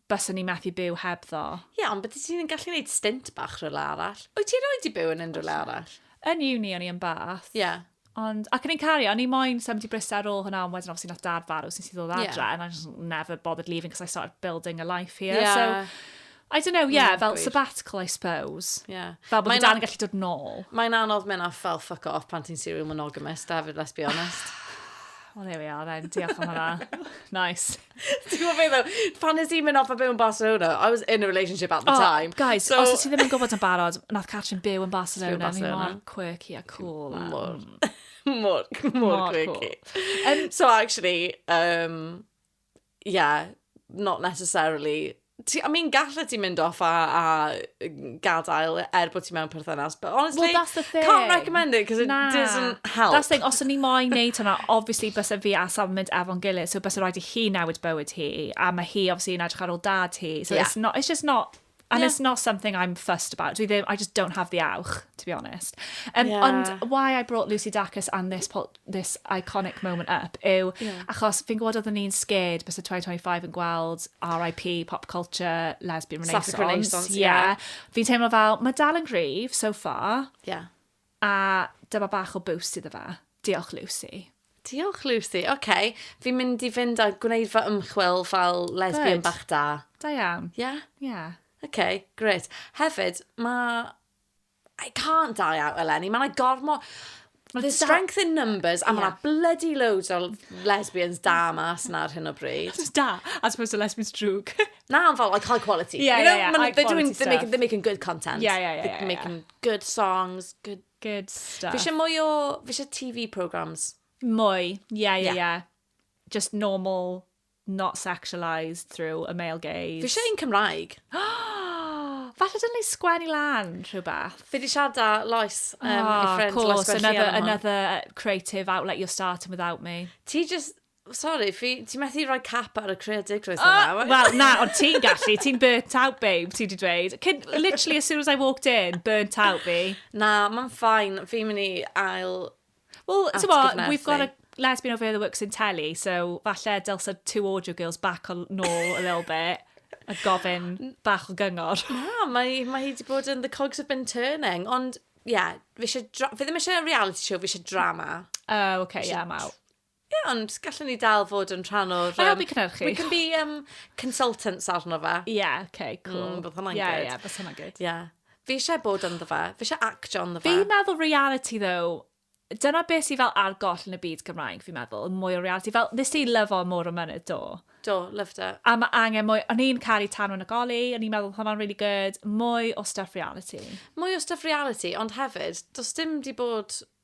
Baswn i methu byw hebddo. Ie, yeah, ond bydde ti'n gallu gwneud stint bach rhywle arall. Wyt ti roi di byw yn unrhyw le arall? Yn uni o'n i yn bath. Ie. Yeah. Ond, ac yn ein cario, o'n i moyn symud i Bristol ar ôl hwnna, ond wedyn obviously nath dad farw sy'n sy'n ddod adre, yeah. and I just never bothered leaving because I started building a life here. Yeah. So, I don't know, yeah, mm, fel gwir. sabbatical, I suppose. Yeah. Fel bod dan yn gallu dod nôl. Mae'n anodd mynd off fel fuck off pan ti'n serial monogamous, David, let's be honest. well, there we are then. Diolch am hwnna. nice. Ti'n gwybod beth ddo? Pan nes i mynd off a byw yn Barcelona, I was in a relationship at the oh, time. Guys, so... os ti ddim yn gwybod yn barod, nath Catrin byw yn Barcelona, Barcelona. ni mor quirky a cool. A... Mor, mm. mor, mor, mor quirky. Cool. Um, so actually, um, yeah, not necessarily Ti, I mean, gallet ti mynd off a, a gadael er bod ti mewn perthynas, but honestly, well, that's the thing. can't recommend it because it nah. doesn't help. That's the thing, os o'n i moyn neud hwnna, obviously bys fi a Sam mynd efo'n gilydd, so bys rhaid i hi newid bywyd hi, a mae hi obviously yn edrych ar ôl dad hi, so yeah. it's, not, it's just not And yeah. it's not something I'm fussed about. Dwi ddim, I just don't have the awch, to be honest. Um, yeah. Ond why I brought Lucy Dacus and this po this iconic moment up yw achos fi'n gwybod oedden ni'n scared byse 2025 yn gweld RIP, pop culture, lesbian renaissance. Sapphic renaissance, ie. Yeah. Yeah. Fi'n teimlo fel, mae dal yn gryf so far. Ie. Yeah. A dyma bach o boost iddo fe. Diolch, Lucy. Diolch, Lucy. Oce, okay. fi'n mynd i fynd a gwneud fy ymchwil fel lesbian Good. bach da. Da iawn. Ie? Yeah? Ie. Yeah. Oce, okay, gret. Hefyd, mae I can't die out eleni, mae yna gormo... Mae strength in numbers, a mae yna bloody loads o lesbians da mas yna ar hyn o bryd. Just da, as opposed to lesbians drwg. na, ond fel, like, high quality. Yeah, you know, yeah, yeah, high they're doing, they're making, they're making good content. Yeah, yeah, yeah. They're yeah, making yeah. good songs, good... Good stuff. Fi eisiau mwy o, fi eisiau TV programs. Mwy, yeah, yeah, yeah. yeah. Just normal not sexualised through a male gaze. Fi eisiau un Cymraeg. Falle dylwn ni sgwennu lan rhywbeth. Fi wedi siarad â Lois, um, oh, ah, friend, course, Lois another, another creative outlet you're starting without me. Ti just, Sorry, fi, ti'n methu rhoi cap ar y creadigrwydd oh, ah, yna. Wel, na, ond ti'n gallu, ti'n burnt out, babe, ti wedi dweud. Cyn, literally, as soon as I walked in, burnt out fi. Na, mae'n ffain, fi'n mynd i ail Wel, ti'n we've got a lesbian over here that works in telly, so falle dylse two audio girls back on nôl a little bit a gofyn bach o gyngor. Na, mae, mae hi wedi bod yn the cogs have been turning, ond, ie, yeah, fi ddim eisiau reality show, fi eisiau drama. Oh, okay, ie, yeah, mae. Ie, ond gallwn ni dal fod yn rhan o'r... Mae'n helpu cynhyrchu. We can be um, consultants arno fe. Ie, yeah, oce, okay, cool. Mm, bydd hwnna'n yeah, good. Ie, yeah, bydd hwnna'n good. Ie. Yeah. Fi eisiau bod ynddo fe. Fi eisiau actio ynddo fe. Fi'n meddwl reality, though, dyna beth sy'n fel argoll yn y byd Gymraeg, fi'n meddwl, mwy o reality. Fel, nes ti lyfo mor o mynydd, do? Do, loved it. A mae angen mwy, o'n i'n caru tan yn y goli, o'n i'n meddwl hwnna'n really good, mwy o stuff reality. Mwy o stuff reality, ond hefyd, does dim di bod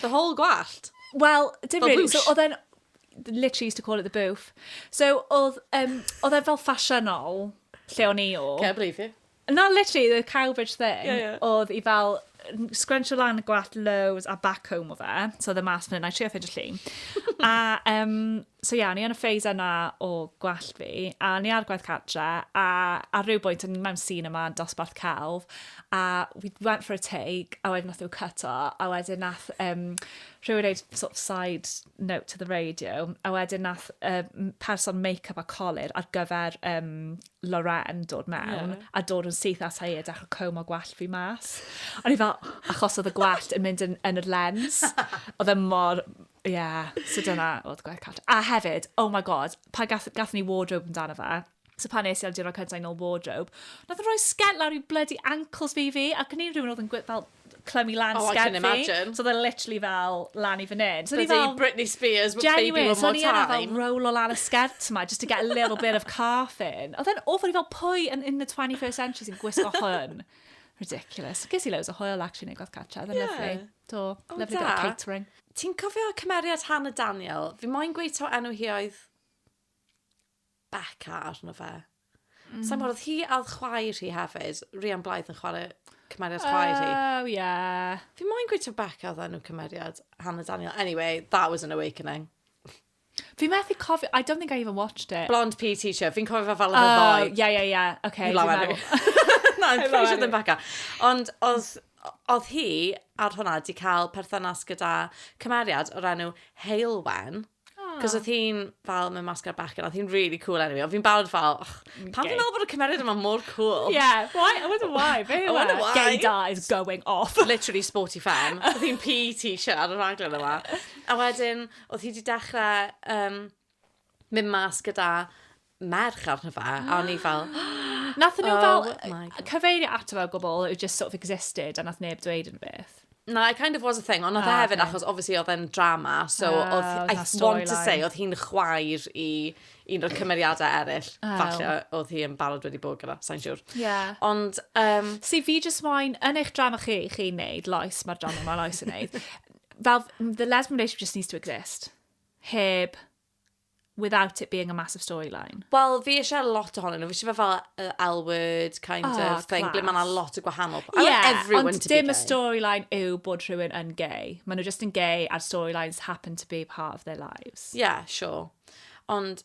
The whole gwallt? Wel, dim really. So, oedd e'n... Literally used to call it the booth. So, oedd um, oedd e fel ffasiynol lle o'n i o. Can't believe you. Na, literally, the Cowbridge thing. Yeah, yeah. Oedd i fel scrunch o lan y gwallt lows a back home o fe. So, oedd e mas fan hyn. I trio ffeindio llun. a um, So ie, o'n i yn y phase yna o gwallt fi, a o'n i ar gwaith cartre, a ar ryw bwynt o'n i mewn sîn yma yn dosbarth celf, a we went for a take, a wedyn nath yw cyto, a wedyn nath um, rhywun reid sort of side note to the radio, a wedyn nath um, person make-up a colir ar gyfer um, Loren dod mewn, yeah. a dod yn syth at ei a dechrau cwm o gwallt fi mas. O'n i fel, achos oedd y gwallt yn mynd yn, yn y lens, oedd e mor Ie, yeah, so dyna oedd gwaith cart. A hefyd, oh my god, pa gath, gath ni wardrobe amdano fe, so pan nes i ar diwrnod cyntaf yn ôl wardrobe, nath yn rhoi sgent lawr i bloody ankles fi fi, ac yn un rhywun oedd yn gwyth fel clymu lan oh, sgent fi. So oedd e literally fel lan i fan hyn. So fel, Britney Spears, baby one more time. So ni yna fel roll o lan y sgent yma, just to get a little bit of calf in. Oedd e'n awful i fel pwy yn in the 21st century sy'n gwisgo hwn. Ridiculous. Ges i loads o hwyl actually yn ei gwaith cartra, oedd e'n yeah. lyflu. Do. O, da. Lyfli bit of catering. Ti'n cofio cymeriad Hannah Daniel? Fi moyn gweud taw enw hi oedd Becca arno fe. Mm. Sa'n gwybod, oedd hi a oedd chwaer hi hefyd. Rhian Blythe yn chwarae cymeriad chwaer hi. Oh, yeah. Fi moyn gweud taw Becca oedd enw cymeriad Hannah Daniel. Anyway, that was an awakening. Fi methu cofio, I don't think I even watched it. Blonde PE teacher, fi'n cofio fe fel yr oh, ddoe. Ie, ie, ie, oce. Hello, Emily. Na, I'm pretty sure ddim Becca. Ond oedd, oedd hi ar hwnna di cael perthynas gyda cymeriad o'r enw Heilwen. Cos oedd hi'n fel mewn masgar bechgyn, oedd hi'n really cool enw i. Oedd fi'n barod fel, och, pan fi'n meddwl bod y cymeriad yma mor cool. Yeah, why? I wonder why. Fe I wonder why. Gaydar is going off. Literally sporty femme. Oedd hi'n PE teacher ar y rhaglen yma. A wedyn, Oedd hi 'di dechrau um, mynd mas gyda merch arno fe, a o'n i fel... Nath nhw fel oh cyfeirio ato fe o gwbl, it just sort of existed, a nath neb dweud yn beth. Na, it kind of was a thing, ond oedd e ah, hefyd, achos obviously oedd e'n drama, so ah, oedd, I want to say, oedd hi'n chwaer i un o'r cymeriadau eraill, oh. falle oedd hi yn barod wedi bod gyda, sa'n siwr. Yeah. Ond... Um, si, fi just moyn, yn eich drama chi, chi'n neud, loes, mae'r drama mae loes yn neud, Fel, the lesbian relationship just needs to exist. Heb, without it being a massive storyline. Wel, fi eisiau lot ohonyn nhw. Fi eisiau fe fel uh, L-word kind oh, of thing, class. ble mae yna lot o gwahanol. I yeah, want everyone ond to be gay. Ond dim y storyline yw bod rhywun yn gay. Mae nhw just yn gay a'r storylines happen to be part of their lives. Yeah, sure. Ond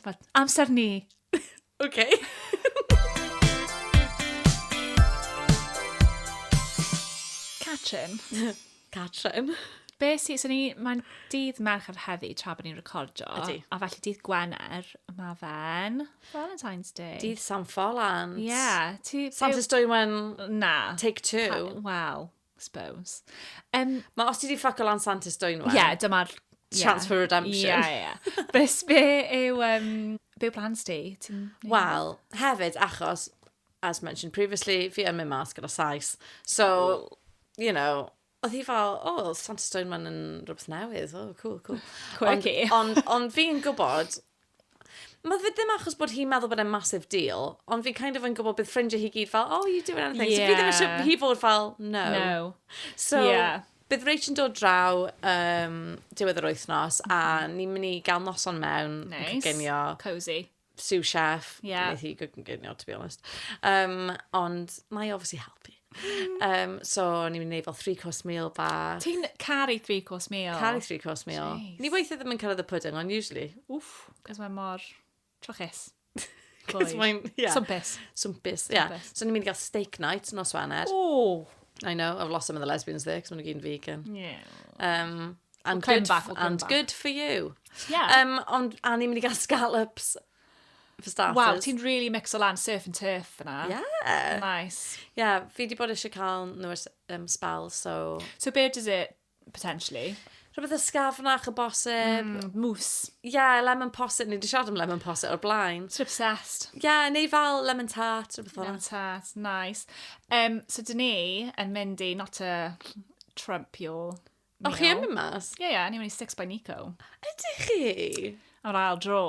Dyma amser ni. OK. Catrin. Catrin. Be sy, so ni, mae'n dydd Mercher heddi tra bod ni'n recordio. Ydy. A felly dydd Gwener, mae fe'n Valentine's Day. Dydd San Ffolan. Ie. Yeah, ti... Santes Dwywen... Na. Take two. Wel, Suppose. Um, Mae os ti di ffaco lan Sant Ystwyth nhw. Ie, yeah, dyma'r... Chance yeah. for redemption. Ie, yeah, ie. Yeah. Bys be yw... Um, be yw plans ti? Wel, hefyd, achos, as mentioned previously, fi yn mynd mas gyda Sais. So, oh. you know, oedd hi fel, o, oh, Santa Stone man yn rhywbeth newydd, o, oh, cool, cool. Quirky. Ond on, on fi'n gwybod, Ma' fe ddim achos bod hi'n meddwl bod e'n massive deal, ond fi kind of yn gwybod bydd ffrindiau hi gyd fel, oh, you doing anything? Yeah. So fi ddim eisiau hi fod fel, no. No. So, yeah. bydd Rach yn dod draw um, diwedd yr wythnos, mm. a mhm. ni'n mynd i gael noson mewn nice. yn cygenio. Cozy. Sue chef. Yeah. Wneud hi gygenio, to be honest. Um, ond, mae obviously helpu. Um, so, o'n i'n gwneud fel three course meal ba. Ti'n caru three course meal? Caru three course meal. Jeez. Ni weithio ddim yn cael y pudding, ond usually. Wff, cos mae mor trochus. Cos mae'n, ie. Yeah. Swmpus. Swmpus, ie. Yeah. So, ni'n mynd i gael steak night nos Wener. Ooh. I know, I've lost some of the lesbians there, cos maen nhw'n vegan. Yeah. Um, and, we'll good, back, we'll and back. good for you. Yeah. Um, ond, a ni'n mynd i gael scallops for starters. Waw, ti'n really mixo lan surf and turf yna. Yeah. Nice. Yeah, fi di bod eisiau cael nhw ers um, spel, so... So be does it, potentially? Rhywbeth ysgafnach y bosib. Mm, mws. Yeah, lemon posib. Ni wedi siarad am lemon posib o'r blaen. Sort obsessed. Yeah, neu fel lemon tart, rhywbeth fel Lemon tart, nice. Um, so dyn ni yn mynd i, not a Trump your O, chi yn mynd mas? Ie, ie, ni'n mynd i Six by Nico. Ydych chi? Ar ail dro.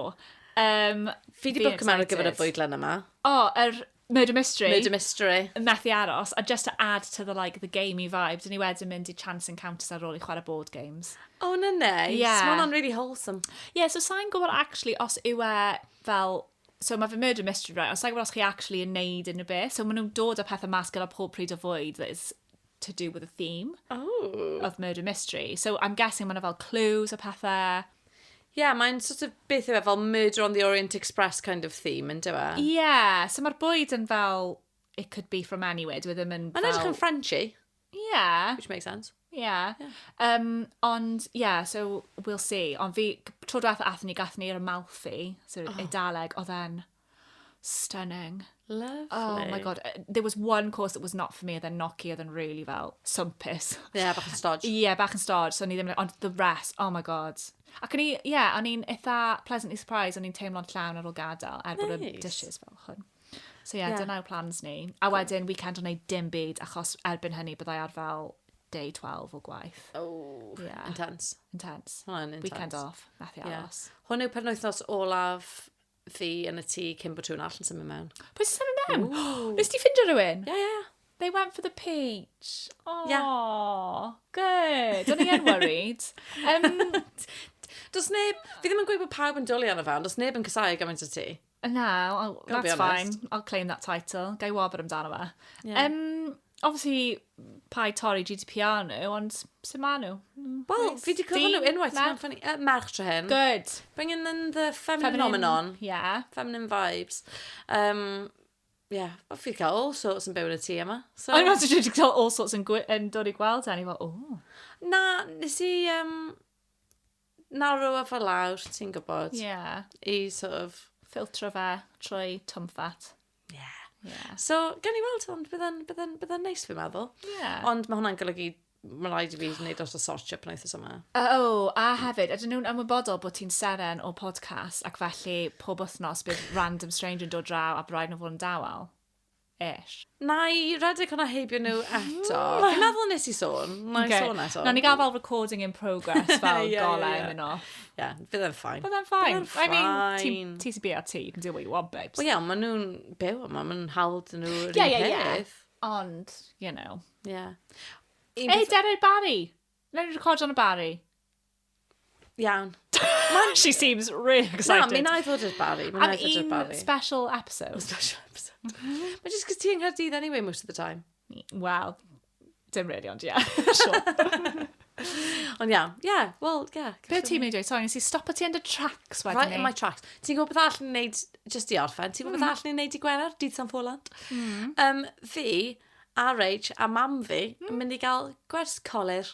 Um, Fi di bwc yma ar gyfer y fwydlen yma. O, oh, yr er Murder Mystery. Murder Mystery. Methu aros, a just to add to the, like, the gamey vibe, dyn ni wedyn mynd i Chance Encounters ar ôl i chwarae board games. Oh, no, no. Yeah. Mae'n on really wholesome. Yeah, so sa'n gwybod actually os yw e fel So mae fy murder mystery, right? Ond sa'n gwybod os chi actually yn neud unrhyw beth. So maen nhw'n dod â pethau mas gyda pob pryd o fwyd that is to do with the theme oh. of murder mystery. So I'm guessing mae'n fel clues a pethau. Yeah, mae'n sort of beth yw e, fel Murder on the Orient Express kind of theme, yn dyfa? E? Yeah, so mae'r bwyd yn fel, it could be from anywhere, dwi e ddim yn fel... Mae'n edrych yn Frenchy. Yeah. Which makes sense. Yeah. yeah. Um, ond, yeah, so we'll see. Ond fi, tro diwethaf athyn ni, gathyn ni'r Amalfi, so oh. Eidaleg, oedd e'n Stunning. Lovely. Oh my god, uh, there was one course that was not for me, oedd e'n noci, oedd e'n really fel swmpus. Ie, yeah, bach yn stodge. Ie, yeah, bach yn stodge, so ni ddim, ond the rest, oh my god. Ac o'n i, ie, yeah, o'n i'n eitha pleasantly surprised, o'n i'n teimlo'n llawn ar ôl gadael, er bod y dishes fel chwn. So ie, yeah, yeah. dyna yw plans ni. A wedyn, weekend o'n ei dim byd, achos erbyn hynny byddai ar fel day 12 o gwaith. Oh, yeah. intense. Intense. Hwna'n intense. Weekend off, methu aros. Yeah. Hwn yw penwythnos olaf fi yn y tŷ cyn bod rhywun all yn symud mewn. Pwy sy'n symud mewn? Ooh. Nes ti ffindio rhywun? Ie, yeah, ie. Yeah. They went for the peach. Oh, yeah. good. O'n i yn worried. Um, Does neb... Fi ddim yn gweud bod pawb yn dwlu arno fe, ond does neb yn cysau gymaint o ti. No, I'll, that's fine. I'll claim that title. Gai wobr amdano fe. Yeah. Um, Obviously, pa i torri GDPR nhw, ond sy'n ma nhw? Wel, fi wedi cofio nhw unwaith, ti'n meddwl ffynnu? Merch tra hyn. Good. Bringing in the feminine phenomenon. Yeah. Feminine vibes. Um, yeah, o fi cael all sorts yn byw yn y tŷ yma. So... Ond ti'n dweud cael all sorts yn, yn dod i gweld hynny, fel, o. Na, nes i... Um, narrow a fel lawr, ti'n gwybod. Yeah. I sort of... Filtro fe trwy twmffat. Yeah. Yeah. So, gan i weld, ond bydda'n bydda bydda neis, fi'n meddwl. Yeah. Ond mae hwnna'n golygu mae'n rhaid i fi wneud dros y search up yn eithaf yma. O, oh, a hefyd, ydyn nhw'n ymwybodol bod ti'n seren o podcast ac felly pob wythnos bydd random stranger yn dod draw a braidd nhw fod yn dawel? Ish. Na i redeg hwnna heibio nhw eto. Fi'n meddwl nes i sôn. Na i okay. sôn eto. Na ni gael fel recording in progress fel yeah, golau yeah, yeah. yn off. Yeah, bydd e'n ffain. Bydd e'n ffain. I mean, ti sy'n byw ti, do what you want, babes. Wel, iawn, maen nhw'n byw yma, maen nhw'n hawl dyn nhw yr yeah, yeah, yeah. Ond, you know. Yeah. Ei, beth... Derek Barry! Rhaid ni record on y Barry. Iawn. She seems really excited. Na, mi na i fod i'r Barry. Am un special episode. Special episode. Mae jyst cos ti yng Nghaerdydd anyway most of the time. Wel, Dim really, ond ie. Sure. Ond iawn, ie, yeah, wel, ie. Yeah, Be ti'n mynd i dweud? Sorry, nes i stop o ti yn dy tracks wedyn Right in my tracks. Ti'n gwybod beth all ni'n neud, just i orffen, ti'n gwybod beth hmm. all ni'n neud i Gwener, dydd San Ffolant? Mm. Um, fi, RH a mam fi, mm. yn hmm. mynd i gael gwers colir.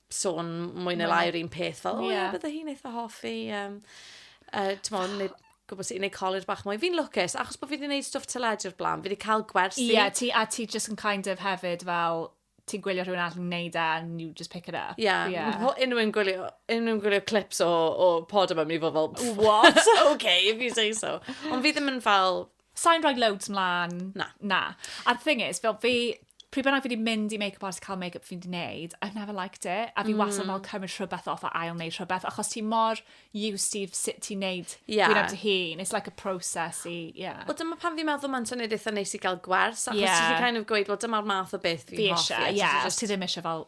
sôn mwy neu lai yr un peth, fel, o ie, yeah. bydde hi'n eitha hoffi, um, uh, ti'n modd, neu gwybod sut i wneud college bach mwy. Fi'n lwcus, achos bod fi wedi gwneud stwff teledu o'r blaen, fi wedi cael gwersi. Ie, yeah, ti, a ti just yn kind of hefyd fel, ti'n gwylio rhywun all yn neud e, and you just pick it up. Ie, yeah. yeah. unrhyw'n gwylio, unrhyw'n gwylio clips o, o pod yma, mi fod fel, what? okay, if you say so. Ond fi ddim yn fel, Sain rhoi loads mlaen. Na. Na. A'r thing is, fel fi, pryd bynnag fi wedi mynd i make-up artist cael make-up fi'n di wneud, I've never liked it. A fi mm. wastad fel cymryd rhywbeth off a ail wneud rhywbeth, achos ti mor used i sut ti'n wneud yeah. gwyneb dy hun. It's like a process i, yeah. Wel, dyma pan fi'n meddwl mae'n syniad eitha neis i gael gwers, achos yeah. ti'n kind of gweud, well, dyma'r math o beth fi'n hoffi. Fi eisiau, ie, yeah, os ti ddim eisiau fel